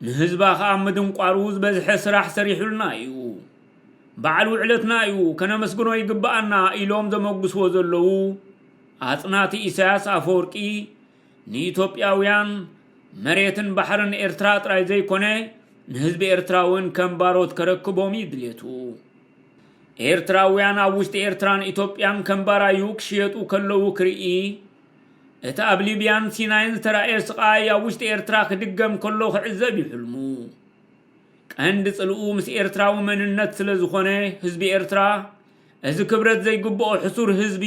ንህዝባ ከኣ ምድንቋሩ ዝበዝሐ ስራሕ ሰሪሑልና እዩ። በዓል ውዕለትና እዩ ከነመስግኖ ይግበኣና ኢሎም ዘመጉስዎ ዘለዉ ኣጽናቲ ኢሳያስ ኣፈወርቂ ንኢትዮጵያውያን መሬትን ባሕርን ኤርትራ ጥራይ ዘይኮነ ንህዝቢ ኤርትራውን ከም ባሮት ከረክቦም እዩ ድሌቱ። ኤርትራውያን ኣብ ውሽጢ ኤርትራን ኢትዮጵያን ከም ባራዩ ክሽየጡ ከለዉ ክርኢ፣ እቲ ኣብ ሊብያን ሲናይን ዝተራእየ ስቓይ ኣብ ውሽጢ ኤርትራ ክድገም ከሎ ክዕዘብ እዩ ሕልሙ። ቀንዲ ጽልኡ ምስ ኤርትራዊ መንነት ስለ ዝኾነ ህዝቢ ኤርትራ እዚ ክብረት ዘይግብኦ ሕሱር ህዝቢ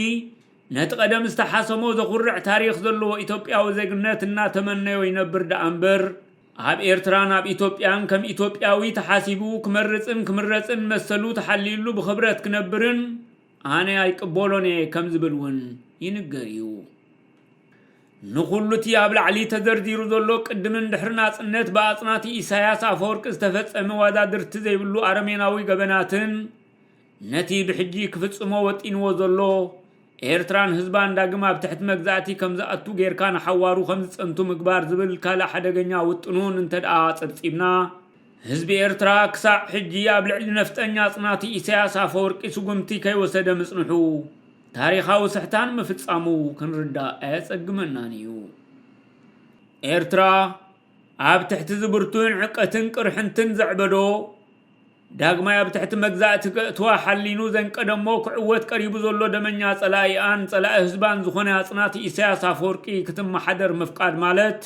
ነቲ ቀደም ዝተሓሰሞ ዘኹርዕ ታሪኽ ዘለዎ ኢትዮጵያዊ ዜግነት እናተመነዮ ይነብር ደኣ እምበር ኣብ ኤርትራን ኣብ ኢትዮጵያን ከም ኢትዮጵያዊ ተሓሲቡ ክመርጽን ክምረጽን መሰሉ ተሓልዩሉ ብኽብረት ክነብርን ኣነ ኣይቅበሎን'የ ከም ዝብል ውን ይንገር'ዩ። ንኹሉ'ቲ ኣብ ላዕሊ ተዘርዚሩ ዘሎ ቅድምን ድሕሪ ናጽነት ብኣጽናቲ ኢሳያስ ኣፈወርቂ ዝተፈጸመ ዋዛድርቲ ዘይብሉ ኣረሜናዊ ገበናትን ነቲ ብሕጂ ክፍጽሞ ወጢንዎ ዘሎ፣ ኤርትራን ህዝባን ዳግም ኣብ ትሕቲ መግዛእቲ ከም ዝኣቱ ጌርካ ንሓዋሩ ከም ዝጸንቱ ምግባር ዝብል ካልእ ሓደገኛ ውጥኑን እንተድኣ ኣጸብጺብና፣ ህዝቢ ኤርትራ ክሳዕ ሕጂ ኣብ ልዕሊ ነፍጠኛ ኣጽናቲ ኢሳያስ ኣፈወርቂ ስጉምቲ ከይወሰደ ምጽንሑ፣ ታሪኻዊ ስሕታን ምፍጻሙ ክንርዳእ ኣየጸግመናን ኢዩ። ኤርትራ። ኣብ ትሕቲ'ዚ ብርቱዕን ዕቀትን ቅርሕንትን ዘዕበዶ፣ ዳግማይ ኣብ ትሕቲ መግዛእቲ ከእትዋ ሓሊኑ ዘንቀደ'ሞ ክዕወት ቀሪቡ ዘሎ ደመኛ ጸላኢኣን ጸላኢ ህዝባን ዝኾነ ኣጽናቲ ኢሳያስ ኣፈወርቂ ክትመሓደር ምፍቃድ ማለት፣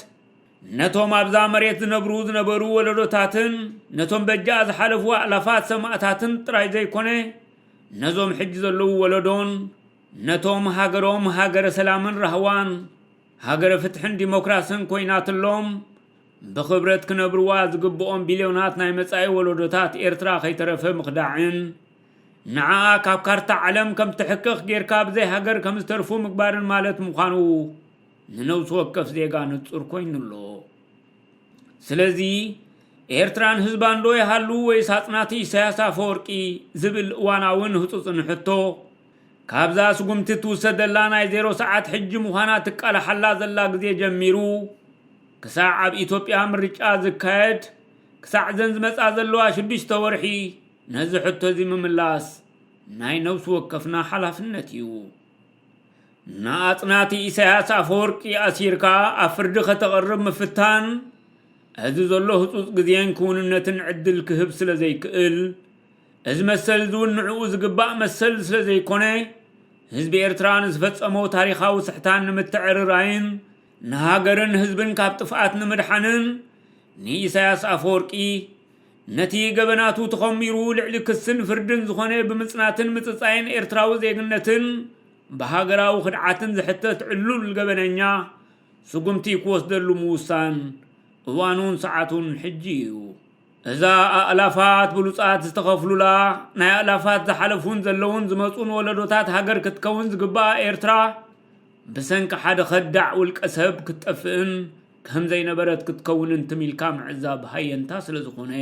ነቶም ኣብዛ መሬት ዝነብሩ ዝነበሩ ወለዶታትን ነቶም በጃኣ ዝሓለፉ ኣእላፋት ሰማእታትን ጥራይ ዘይኮነ፣ ነዞም ሕጂ ዘለዉ ወለዶን ነቶም ሃገሮም ሃገረ ሰላምን ራህዋን፣ ሃገረ ፍትሕን ዲሞክራስን ኮይናትሎም ብኽብረት ክነብርዋ ዝግብኦም ቢልዮናት ናይ መጻኢ ወለዶታት ኤርትራ ከይተረፈ ምኽዳዕን ንዓኣ ካብ ካርታ ዓለም ከም ትሕክኽ ጌርካ ብዘይ ሃገር ከም ዝተርፉ ምግባርን ማለት ምዃኑ ንነብሲ ወከፍ ዜጋ ንጹር ኮይኑ ኣሎ ስለዚ ኤርትራን ህዝባን ዶ ይሃሉ ወይስ ኣጽናቲ ኢሳያስ ኣፈወርቂ ዝብል እዋናውን ህጹጽን ሕቶ ካብዛ ስጉምቲ ትውሰደላ ናይ ዜሮ ሰዓት ሕጂ ምዃና ትቃላሓላ ዘላ ግዜ ጀሚሩ ክሳዕ ኣብ ኢትዮጵያ ምርጫ ዝካየድ ክሳዕ እዘን ዝመጻ ዘለዋ ሽዱሽተ ወርሒ ነዚ ሕቶ እዚ ምምላስ ናይ ነብሲ ወከፍና ሓላፍነት እዩ። ንኣጽናቲ ኢሳያስ ኣፈወርቂ ኣሲርካ ኣብ ፍርዲ ከተቕርብ ምፍታን እዚ ዘሎ ህጹጽ ግዜን ክውንነትን ዕድል ክህብ ስለ ዘይክእል እዚ መሰል እዚ እውን ንዕኡ ዝግባእ መሰል ስለ ዘይኮነ፣ ህዝቢ ኤርትራ ንዝፈጸሞ ታሪኻዊ ስሕታን ንምትዕርራይን ንሃገርን ህዝብን ካብ ጥፍኣት ንምድሓንን ንኢሳያስ ኣፈወርቂ ነቲ ገበናቱ ተኾሚሩ ልዕሊ ክስን ፍርድን ዝኾነ ብምጽናትን ምጽጻይን ኤርትራዊ ዜግነትን ብሃገራዊ ክድዓትን ዝሕተት ዕሉል ገበነኛ ስጉምቲ ክወስደሉ ምውሳን እዋኑን ሰዓቱን ሕጂ እዩ። እዛ ኣእላፋት ብሉጻት ዝተኸፍሉላ፣ ናይ ኣእላፋት ዝሓለፉን ዘለዉን ዝመጹን ወለዶታት ሃገር ክትከውን ዝግብኣ ኤርትራ፣ ብሰንኪ ሓደ ከዳዕ ውልቀ ሰብ ክትጠፍእን ከም ዘይነበረት ክትከውንን ትም ኢልካ ምዕዛብ ሃየንታ ስለ ዝኾነ፣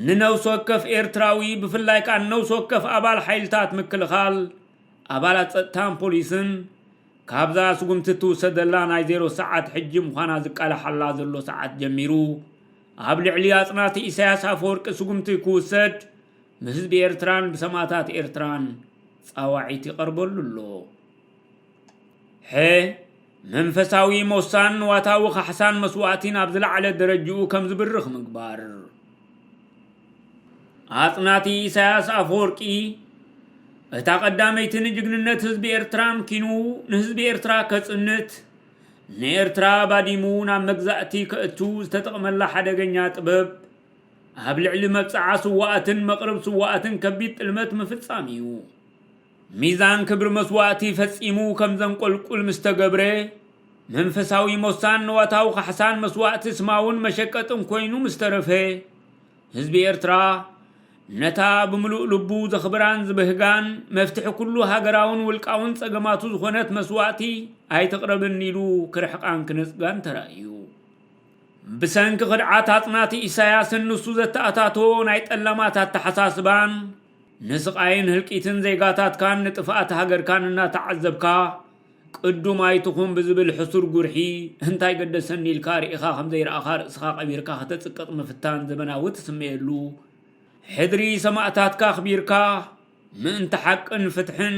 ንነብሲ ወከፍ ኤርትራዊ ብፍላይ ከኣ ንነብሲ ወከፍ ኣባል ሓይልታት ምክልኻል፣ ኣባላት ጸጥታን ፖሊስን፣ ካብዛ ስጉምቲ እትውሰደላ ናይ ዜሮ ሰዓት ሕጂ ምዃና ዝቃላሓላ ዘሎ ሰዓት ጀሚሩ፣ ኣብ ልዕሊ ኣጽናቲ ኢሳያስ ኣፈወርቂ ስጉምቲ ክውሰድ ብህዝቢ ኤርትራን ብሰማእታት ኤርትራን ጻዋዒት ይቐርበሉ ኣሎ። ሐ መንፈሳዊ ሞሳን ንዋታዊ ካሕሳን መስዋእቲን ኣብ ዝለዓለ ደረጅኡ ከም ዝብርኽ ምግባር። ኣጽናቲ ኢሳያስ ኣፈወርቂ እታ ቀዳመይቲ ንጅግንነት ህዝቢ ኤርትራን ኪኑ ንህዝቢ ኤርትራ ከጽንት ንኤርትራ ባዲሙ ናብ መግዛእቲ ከእቱ ዝተጠቕመላ ሓደገኛ ጥበብ፣ ኣብ ልዕሊ መብጽዓ ስዉኣትን መቕርብ ስዉኣትን ከቢድ ጥልመት ምፍጻም እዩ። ሚዛን ክብሪ መስዋእቲ ፈጺሙ ከም ዘንቆልቁል ምስ ተገብረ፣ መንፈሳዊ ሞሳን ንዋታዊ ካሕሳን መስዋእቲ ስማውን መሸቀጥን ኮይኑ ምስ ተረፈ፣ ህዝቢ ኤርትራ ነታ ብምሉእ ልቡ ዘኽብራን ዝብህጋን መፍትሒ ኩሉ ሃገራውን ውልቃውን ጸገማቱ ዝኾነት መስዋእቲ ኣይትቕረብን ኢሉ ክርሕቃን ክነጽጋን ተራእዩ። ብሰንኪ ክድዓት ኣጽናቲ ኢሳያስን ንሱ ዘተኣታቶ ናይ ጠላማት ኣተሓሳስባን ንስቓይን ህልቂትን ዜጋታትካን ንጥፍኣት ሃገርካን እናተዓዘብካ ቅዱም ኣይትኹን ብዝብል ሕሱር ጉርሒ እንታይ ገደሰኒ ኢልካ ርኢኻ ከም ዘይረኣኻ ርእስኻ ቀቢርካ ከተጽቅጥ ምፍታን ዘበናዊ ትስመየሉ ሕድሪ ሰማእታትካ ኣኽቢርካ ምእንቲ ሓቅን ፍትሕን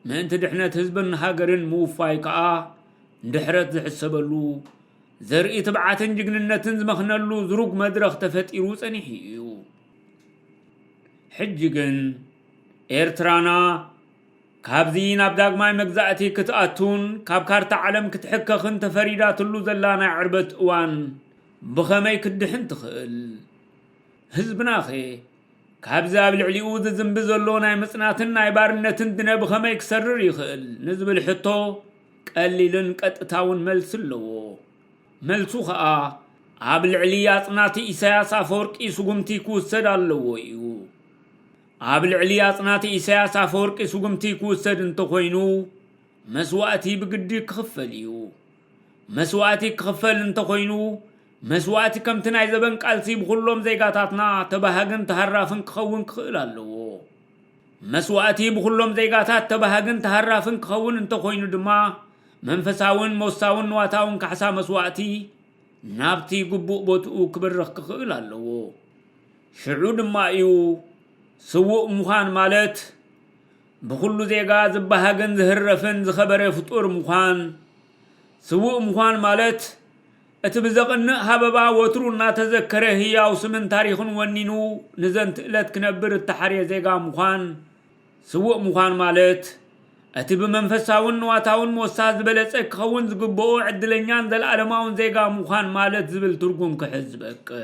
ምእንቲ ድሕነት ህዝብን ሃገርን ምውፋይ ከኣ ድሕረት ዝሕሰበሉ ዘርኢ ትብዓትን ጅግንነትን ዝመኽነሉ ዝሩግ መድረኽ ተፈጢሩ ጸኒሑ እዩ። ሕጂ ግን ኤርትራና ካብዚ ናብ ዳግማይ መግዛእቲ ክትኣቱን ካብ ካርታ ዓለም ክትሕከኽን ተፈሪዳትሉ ዘላ ናይ ዕርበት እዋን ብኸመይ ክትድሕን ትኽእል? ህዝብናኸ ካብዚ ኣብ ልዕሊኡ ዝዝንቢ ዘሎ ናይ ምጽናትን ናይ ባርነትን ድነ ብኸመይ ክሰርር ይኽእል ንዝብል ሕቶ ቀሊልን ቀጥታውን መልሲ ኣለዎ። መልሱ ከኣ ኣብ ልዕሊ ኣጽናቲ ኢሳያስ ኣፈወርቂ ስጉምቲ ክውሰድ ኣለዎ ኢዩ። ኣብ ልዕሊ ኣጽናቲ ኢሳያስ ኣፈወርቂ ስጉምቲ ክውሰድ እንተኾይኑ መስዋእቲ ብግዲ ክኽፈል ኢዩ። መስዋእቲ ክኽፈል እንተኾይኑ መስዋእቲ ከምቲ ናይ ዘበን ቃልሲ ብኹሎም ዜጋታትና ተባሃግን ተሃራፍን ክኸውን ክኽእል ኣለዎ። መስዋእቲ ብኹሎም ዜጋታት ተባሃግን ተሃራፍን ክኸውን እንተኾይኑ ድማ መንፈሳውን ሞሳውን ንዋታውን ካሕሳ መስዋእቲ ናብቲ ግቡእ ቦትኡ ክብርኽ ክኽእል ኣለዎ። ሽዑ ድማ እዩ ስዉእ ምዃን ማለት ብኹሉ ዜጋ ዝበሃግን ዝህረፍን ዝኸበረ ፍጡር ምዃን ስዉእ ምዃን ማለት እቲ ብዘቕንእ ሃበባ ወትሩ እናተዘከረ ህያው ስምን ታሪኽን ወኒኑ ንዘንት እለት ክነብር እተሓርየ ዜጋ ምዃን ስዉእ ምዃን ማለት እቲ ብመንፈሳውን ንዋታውን ሞሳ ዝበለጸ ክኸውን ዝግብኦ ዕድለኛን ዘለኣለማውን ዜጋ ምዃን ማለት ዝብል ትርጉም ክሕዝ ዝበቅዕ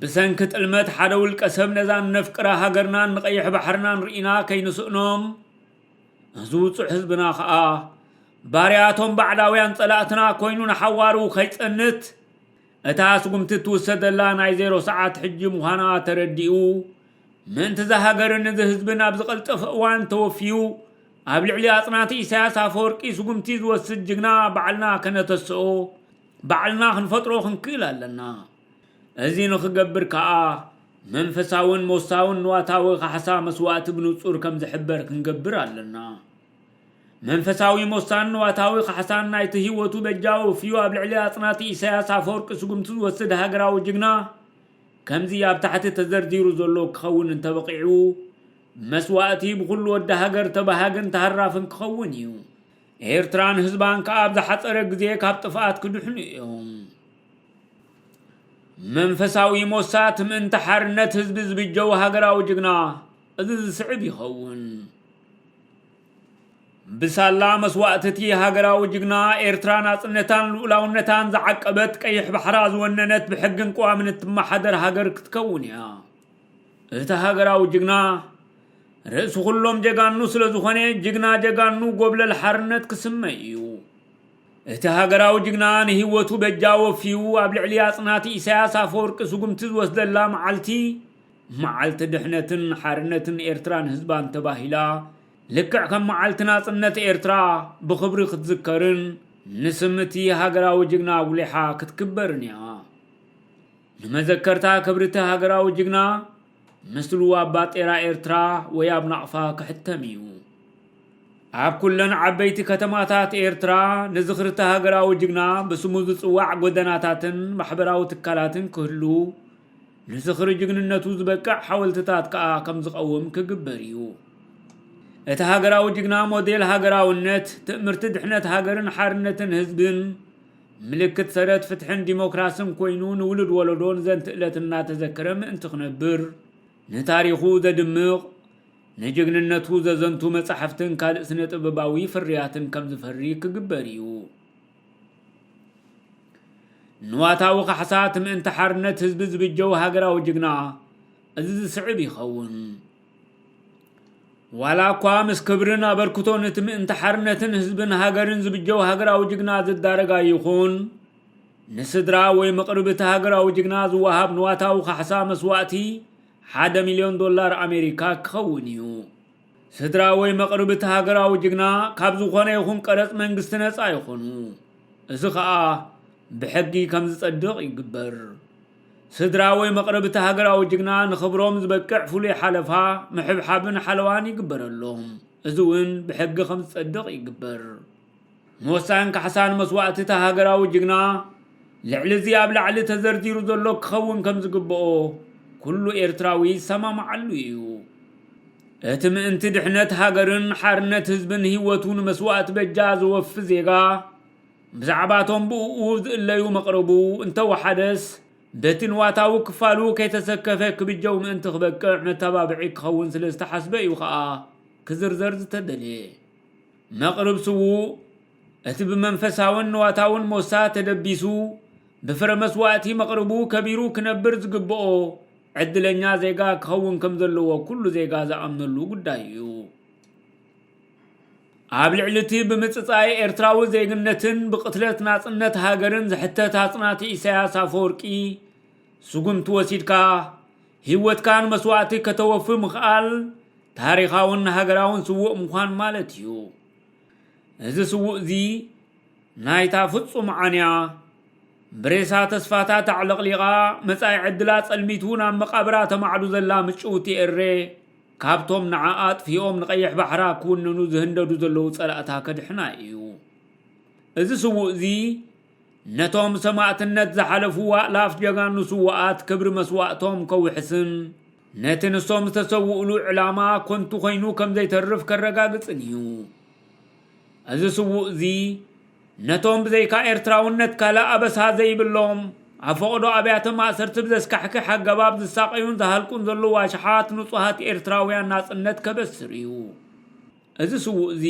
ብሰንኪ ጥልመት ሓደ ውልቀሰብ ነዛ እነፍቅራ ሃገርናን ንቀይሕ ባሕርናን ርኢና ከይንስእኖም እዚ ውፁዕ ህዝብና ከዓ ባርያቶም ባዕዳውያን ፀላእትና ኮይኑ ንሓዋሩ ከይፀንት እታ ስጉምቲ እትውሰደላ ናይ ዜሮ ሰዓት ሕጂ ምዃና ተረዲኡ ምእንቲ እዛ ሃገርን እዚ ህዝብን ኣብ ዝቐልጠፈ እዋን ተወፊዩ ኣብ ልዕሊ ኣጽናቲ ኢሳያስ ኣፈወርቂ ስጉምቲ ዝወስድ ጅግና ባዕልና ከነተስኦ ባዕልና ክንፈጥሮ ክንክእል ኣለና። እዚ ንኽገብር ከኣ መንፈሳውን ሞሳውን ንዋታዊ ካሕሳ መስዋእቲ ብንጹር ከም ዝሕበር ክንገብር ኣለና። መንፈሳዊ ሞሳን ንዋታዊ ካሕሳን ናይቲ ህይወቱ በጃ ወፍዩ ኣብ ልዕሊ ኣጽናቲ ኢሳያስ ኣፈወርቂ ስጉምቲ ዝወስድ ሃገራዊ ጅግና ከምዚ ኣብ ታሕቲ ተዘርዚሩ ዘሎ ክኸውን እንተበቒዑ መስዋእቲ ብኹሉ ወዲ ሃገር ተባሃግን ተሃራፍን ክኸውን እዩ። ኤርትራን ህዝባን ከኣ ኣብ ዝሓጸረ ግዜ ካብ ጥፍኣት ክድሕኑ እዮም። መንፈሳዊ ሞሳት ምእንቲ ሓርነት ህዝቢ ዝብጀው ሃገራዊ ጅግና እዚ ዝስዕብ ይኸውን። ብሳላ መስዋእቲ እቲ ሃገራዊ ጅግና ኤርትራ ናጽነታን ልኡላውነታን ዝዓቀበት ቀይሕ ባሕራ ዝወነነት ብሕግን ቅዋምን እትመሓደር ሃገር ክትከውን እያ። እቲ ሃገራዊ ጅግና ርእሲ ኩሎም ጀጋኑ ስለ ዝኾነ ጅግና ጀጋኑ ጎብለል ሓርነት ክስመ እዩ። እቲ ሃገራዊ ጅግና ንህይወቱ በጃ ወፍዩ ኣብ ልዕሊ ኣጽናቲ ኢሳያስ ኣፈወርቂ ስጉምቲ ዝወስደላ መዓልቲ መዓልቲ ድሕነትን ሓርነትን ኤርትራን ህዝባን ተባሂላ ልክዕ ከም መዓልቲ ናጽነት ኤርትራ ብኽብሪ ክትዝከርን ንስም እቲ ሃገራዊ ጅግና ኣጉሊሓ ክትክበርን እያ። ንመዘከርታ ክብሪ'ቲ ሃገራዊ ጅግና፣ ምስሉ ኣብ ባጤራ ኤርትራ ወይ ኣብ ናቕፋ ክሕተም እዩ። ኣብ ኩለን ዓበይቲ ከተማታት ኤርትራ ንዝኽሪ'ቲ ሃገራዊ ጅግና ብስሙ ዝጽዋዕ ጎደናታትን ማሕበራዊ ትካላትን ክህሉ፣ ንዝኽሪ ጅግንነቱ ዝበቅዕ ሓወልትታት ከኣ ከምዝቐውም ክግበር እዩ። እቲ ሃገራዊ ጅግና ሞዴል ሃገራውነት፣ ትእምርቲ ድሕነት ሃገርን ሓርነትን ህዝብን፣ ምልክት ሰረት ፍትሕን ዲሞክራስን ኮይኑ ንውሉድ ወለዶ ንዘንት እለት እናተዘከረ ምእንቲ ክነብር ንታሪኹ ዘድምቕ ንጅግንነቱ ዘዘንቱ መጻሕፍትን ካልእ ስነ ጥበባዊ ፍርያትን ከም ዝፈሪ ክግበር እዩ። ንዋታዊ ካሕሳት ምእንቲ ሓርነት ህዝቢ ዝብጀው ሃገራዊ ጅግና እዚ ዝስዕብ ይኸውን። ዋላ እኳ ምስ ክብርን ኣበርክቶን እቲ ምእንቲ ሓርነትን ህዝብን ሃገርን ዝብጀው ሃገራዊ ጅግና ዝዳረግ ኣይኹን፣ ንስድራ ወይ መቕርብ እቲ ሃገራዊ ጅግና ዝወሃብ ንዋታዊ ካሕሳ መስዋእቲ ሓደ ሚልዮን ዶላር ኣሜሪካ ክኸውን እዩ። ስድራ ወይ መቕርብ እቲ ሃገራዊ ጅግና ካብ ዝኾነ ይኹን ቀረጽ መንግስቲ ነጻ ይኾኑ። እዚ ከኣ ብሕጊ ከምዝጸድቕ ይግበር። ስድራ ወይ መቕርብ እቲ ሃገራዊ ጅግና ንኽብሮም ዝበቅዕ ፍሉይ ሓለፋ፣ ምሕብሓብን ሓለዋን ይግበረሎም። እዚ እውን ብሕጊ ከም ዝጸድቕ ይግበር። ንወሳን ካሕሳን መስዋእቲ እቲ ሃገራዊ ጅግና ልዕሊ እዚ ኣብ ላዕሊ ተዘርዚሩ ዘሎ ክኸውን ከም ዝግብኦ ኩሉ ኤርትራዊ ይሰማማዓሉ እዩ። እቲ ምእንቲ ድሕነት ሃገርን ሓርነት ህዝብን ህይወቱ ንመስዋእቲ በጃ ዘወፊ ዜጋ፣ ብዛዕባ እቶም ብእኡ ዝእለዩ መቕርቡ እንተ ወሓደስ በቲ ንዋታዊ ክፋሉ ከይተሰከፈ ክብጀው ምእንቲ ክበቅዕ መተባብዒ ክኸውን ስለ ዝተሓስበ እዩ ኸኣ ክዝርዘር ዝተደልየ። መቕርብ ስዉእ እቲ ብመንፈሳውን ንዋታውን ሞሳ ተደቢሱ ብፍረ መስዋእቲ መቕርቡ ከቢሩ ክነብር ዝግብኦ ዕድለኛ ዜጋ ክኸውን ከም ዘለዎ ኩሉ ዜጋ ዝኣምነሉ ጉዳይ እዩ። ኣብ ልዕሊ'ቲ ብምጽጻይ ኤርትራዊ ዜግነትን ብቕትለት ናጽነት ሃገርን ዝሕተት ኣጽናቲ ኢሳያስ ኣፈወርቂ ስጉምቲ ወሲድካ ህይወትካ ንመስዋእቲ ከተወፊ ምኽኣል ታሪኻውን ሃገራውን ስዉእ ምዃን ማለት እዩ። እዚ ስዉእ'ዚ ናይታ ፍጹም ዓንያ ብሬሳ ተስፋታት ኣዕለቕሊቓ መጻኢ ዕድላ ጸልሚቱ ናብ መቓብራ ተማዕዱ ዘላ ምጭውቲ ኤሬ፣ ካብቶም ንዓኣ ኣጥፊኦም ንቀይሕ ባሕራ ክውንኑ ዝህንደዱ ዘለዉ ጸላእታ ከድሕና ኢዩ። እዚ ስዉእ'ዚ ነቶም ሰማእትነት ዝሓለፉ ኣእላፍ ጀጋኑ ስዉኣት ክብሪ መስዋእቶም ከውሕስን ነቲ ንሶም ዝተሰውእሉ ዕላማ ኮንቱ ኮይኑ ከምዘይተርፍ ከረጋግጽን ኢዩ። እዚ ስዉእ'ዚ ነቶም ብዘይካ ኤርትራውነት ካልእ ኣበሳ ዘይብሎም፣ ኣብ ፈቐዶ ኣብያተ ማእሰርቲ ብዘስካሕክሕ ኣገባብ ዝሳቐዩን ዝሃልቁን ዘለዉ ኣሽሓት ንጹሃት ኤርትራውያን ናጽነት ከበስር እዩ። እዚ ስዉእ'ዚ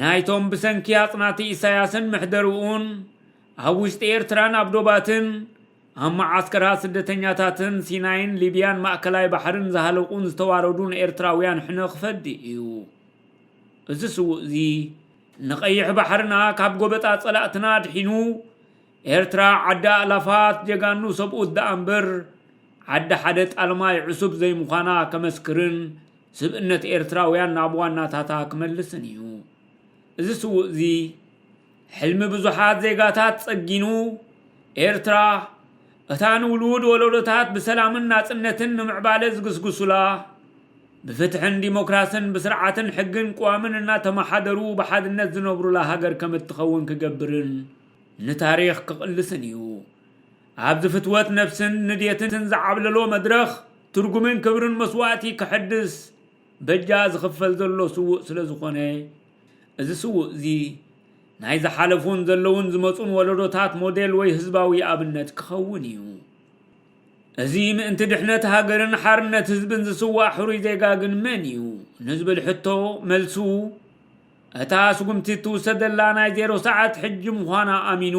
ናይቶም ብሰንኪ ኣጽናቲ ኢሳያስን ምሕደርኡን ኣብ ውሽጢ ኤርትራን ኣብ ዶባትን ኣብ መዓስከራት ስደተኛታትን ሲናይን ሊብያን ማእከላይ ባሕርን ዝሃለቁን ዝተዋረዱን ኤርትራውያን ሕነ ክፈዲ እዩ። እዚ ስዉእ'ዚ ንቀይሕ ባሕርና ካብ ጎበጣ ጸላእትና ኣድሒኑ ኤርትራ ዓዲ ኣእላፋት ጀጋኑ ሰብኡት ደኣምበር ዓዲ ሓደ ጣልማይ ዕሱብ ዘይምዃና ከመስክርን ስብእነት ኤርትራውያን ናብ ዋናታታ ክመልስን እዩ። እዚ ስዉእ'ዚ ሕልሚ ብዙሓት ዜጋታት ጸጊኑ፣ ኤርትራ፣ እታ ንውሉድ ወለዶታት ብሰላምን ናጽነትን ንምዕባለ ዝግስግሱላ፣ ብፍትሕን ዲሞክራስን ብስርዓትን ሕግን ቅዋምን እናተመሓደሩ ብሓድነት ዝነብሩላ ሃገር ከም እትኸውን ክገብርን ንታሪኽ ክቕልስን እዩ። ኣብዚ ፍትወት ነብስን ንዴትን ዝዓብለሎ መድረኽ ትርጉምን ክብርን መስዋእቲ ክሕድስ በጃ ዝኽፈል ዘሎ ስዉእ ስለዝኾነ፣ እዚ ስዉእ'ዚ፣ ናይ ዝሓለፉን ዘለዉን ዝመጹን ወለዶታት ሞዴል ወይ ህዝባዊ ኣብነት ክኸውን እዩ። እዚ ምእንቲ ድሕነት ሃገርን ሓርነት ህዝብን ዝስዋእ ሕሩይ ዜጋ ግን መን እዩ? ንዝብል ሕቶ መልሱ እታ ስጉምቲ እትውሰደላ ናይ ዜሮ ሰዓት ሕጂ ምዃና ኣሚኑ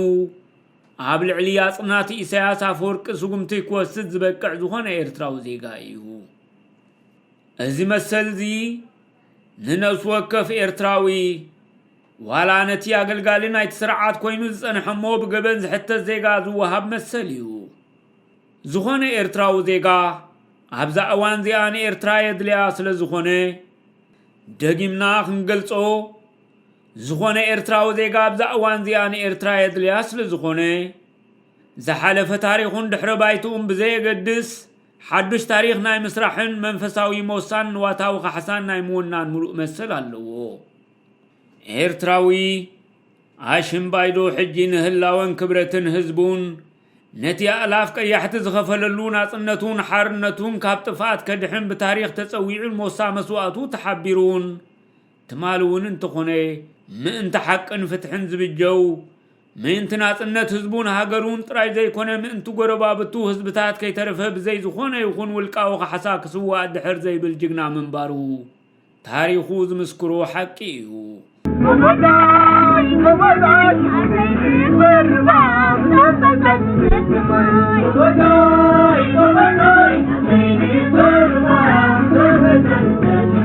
ኣብ ልዕሊ ኣጽናቲ ኢሳያስ ኣፈወርቂ ስጉምቲ ክወስድ ዝበቅዕ ዝኾነ ኤርትራዊ ዜጋ እዩ። እዚ መሰል'ዚ ንነፍሲ ወከፍ ኤርትራዊ ዋላ ነቲ ኣገልጋሊ ናይቲ ስርዓት ኮይኑ ዝጸንሐ እሞ ብገበን ዝሕተት ዜጋ ዝወሃብ መሰል እዩ። ዝኾነ ኤርትራዊ ዜጋ ኣብዛ እዋን እዚኣ ንኤርትራ የድልያ ስለ ዝኾነ ደጊምና ክንገልጾ ዝኾነ ኤርትራዊ ዜጋ ኣብዛ እዋን እዚኣ ንኤርትራ የድልያ ስለ ዝኾነ ዝሓለፈ ታሪኹን ድሕረ ባይትኡን ብዘየገድስ ሓዱሽ ታሪኽ ናይ ምስራሕን መንፈሳዊ ሞሳን ንዋታዊ ካሕሳን ናይ ምውናን ምሉእ መሰል ኣለዎ። ኤርትራዊ ኣሽምባይዶ ሕጂ ንህላወን ክብረትን ህዝቡን ነቲ ኣእላፍ ቀያሕቲ ዝኸፈለሉ ናጽነቱን ሓርነቱን ካብ ጥፍኣት ከድሕን ብታሪኽ ተጸዊዑን ሞሳ መስዋእቱ ተሓቢሩን ትማል እውን እንተኾነ ምእንቲ ሓቅን ፍትሕን ዝብጀው፣ ምእንቲ ናጽነት ህዝቡን ሃገሩን ጥራይ ዘይኮነ ምእንቲ ጎረባብቱ ህዝብታት ከይተረፈ ብዘይ ዝኾነ ይኹን ውልቃዊ ካሕሳ ክስዋእ ድሕር ዘይብል ጅግና ምንባሩ ታሪኹ ዝምስክሮ ሓቂ እዩ።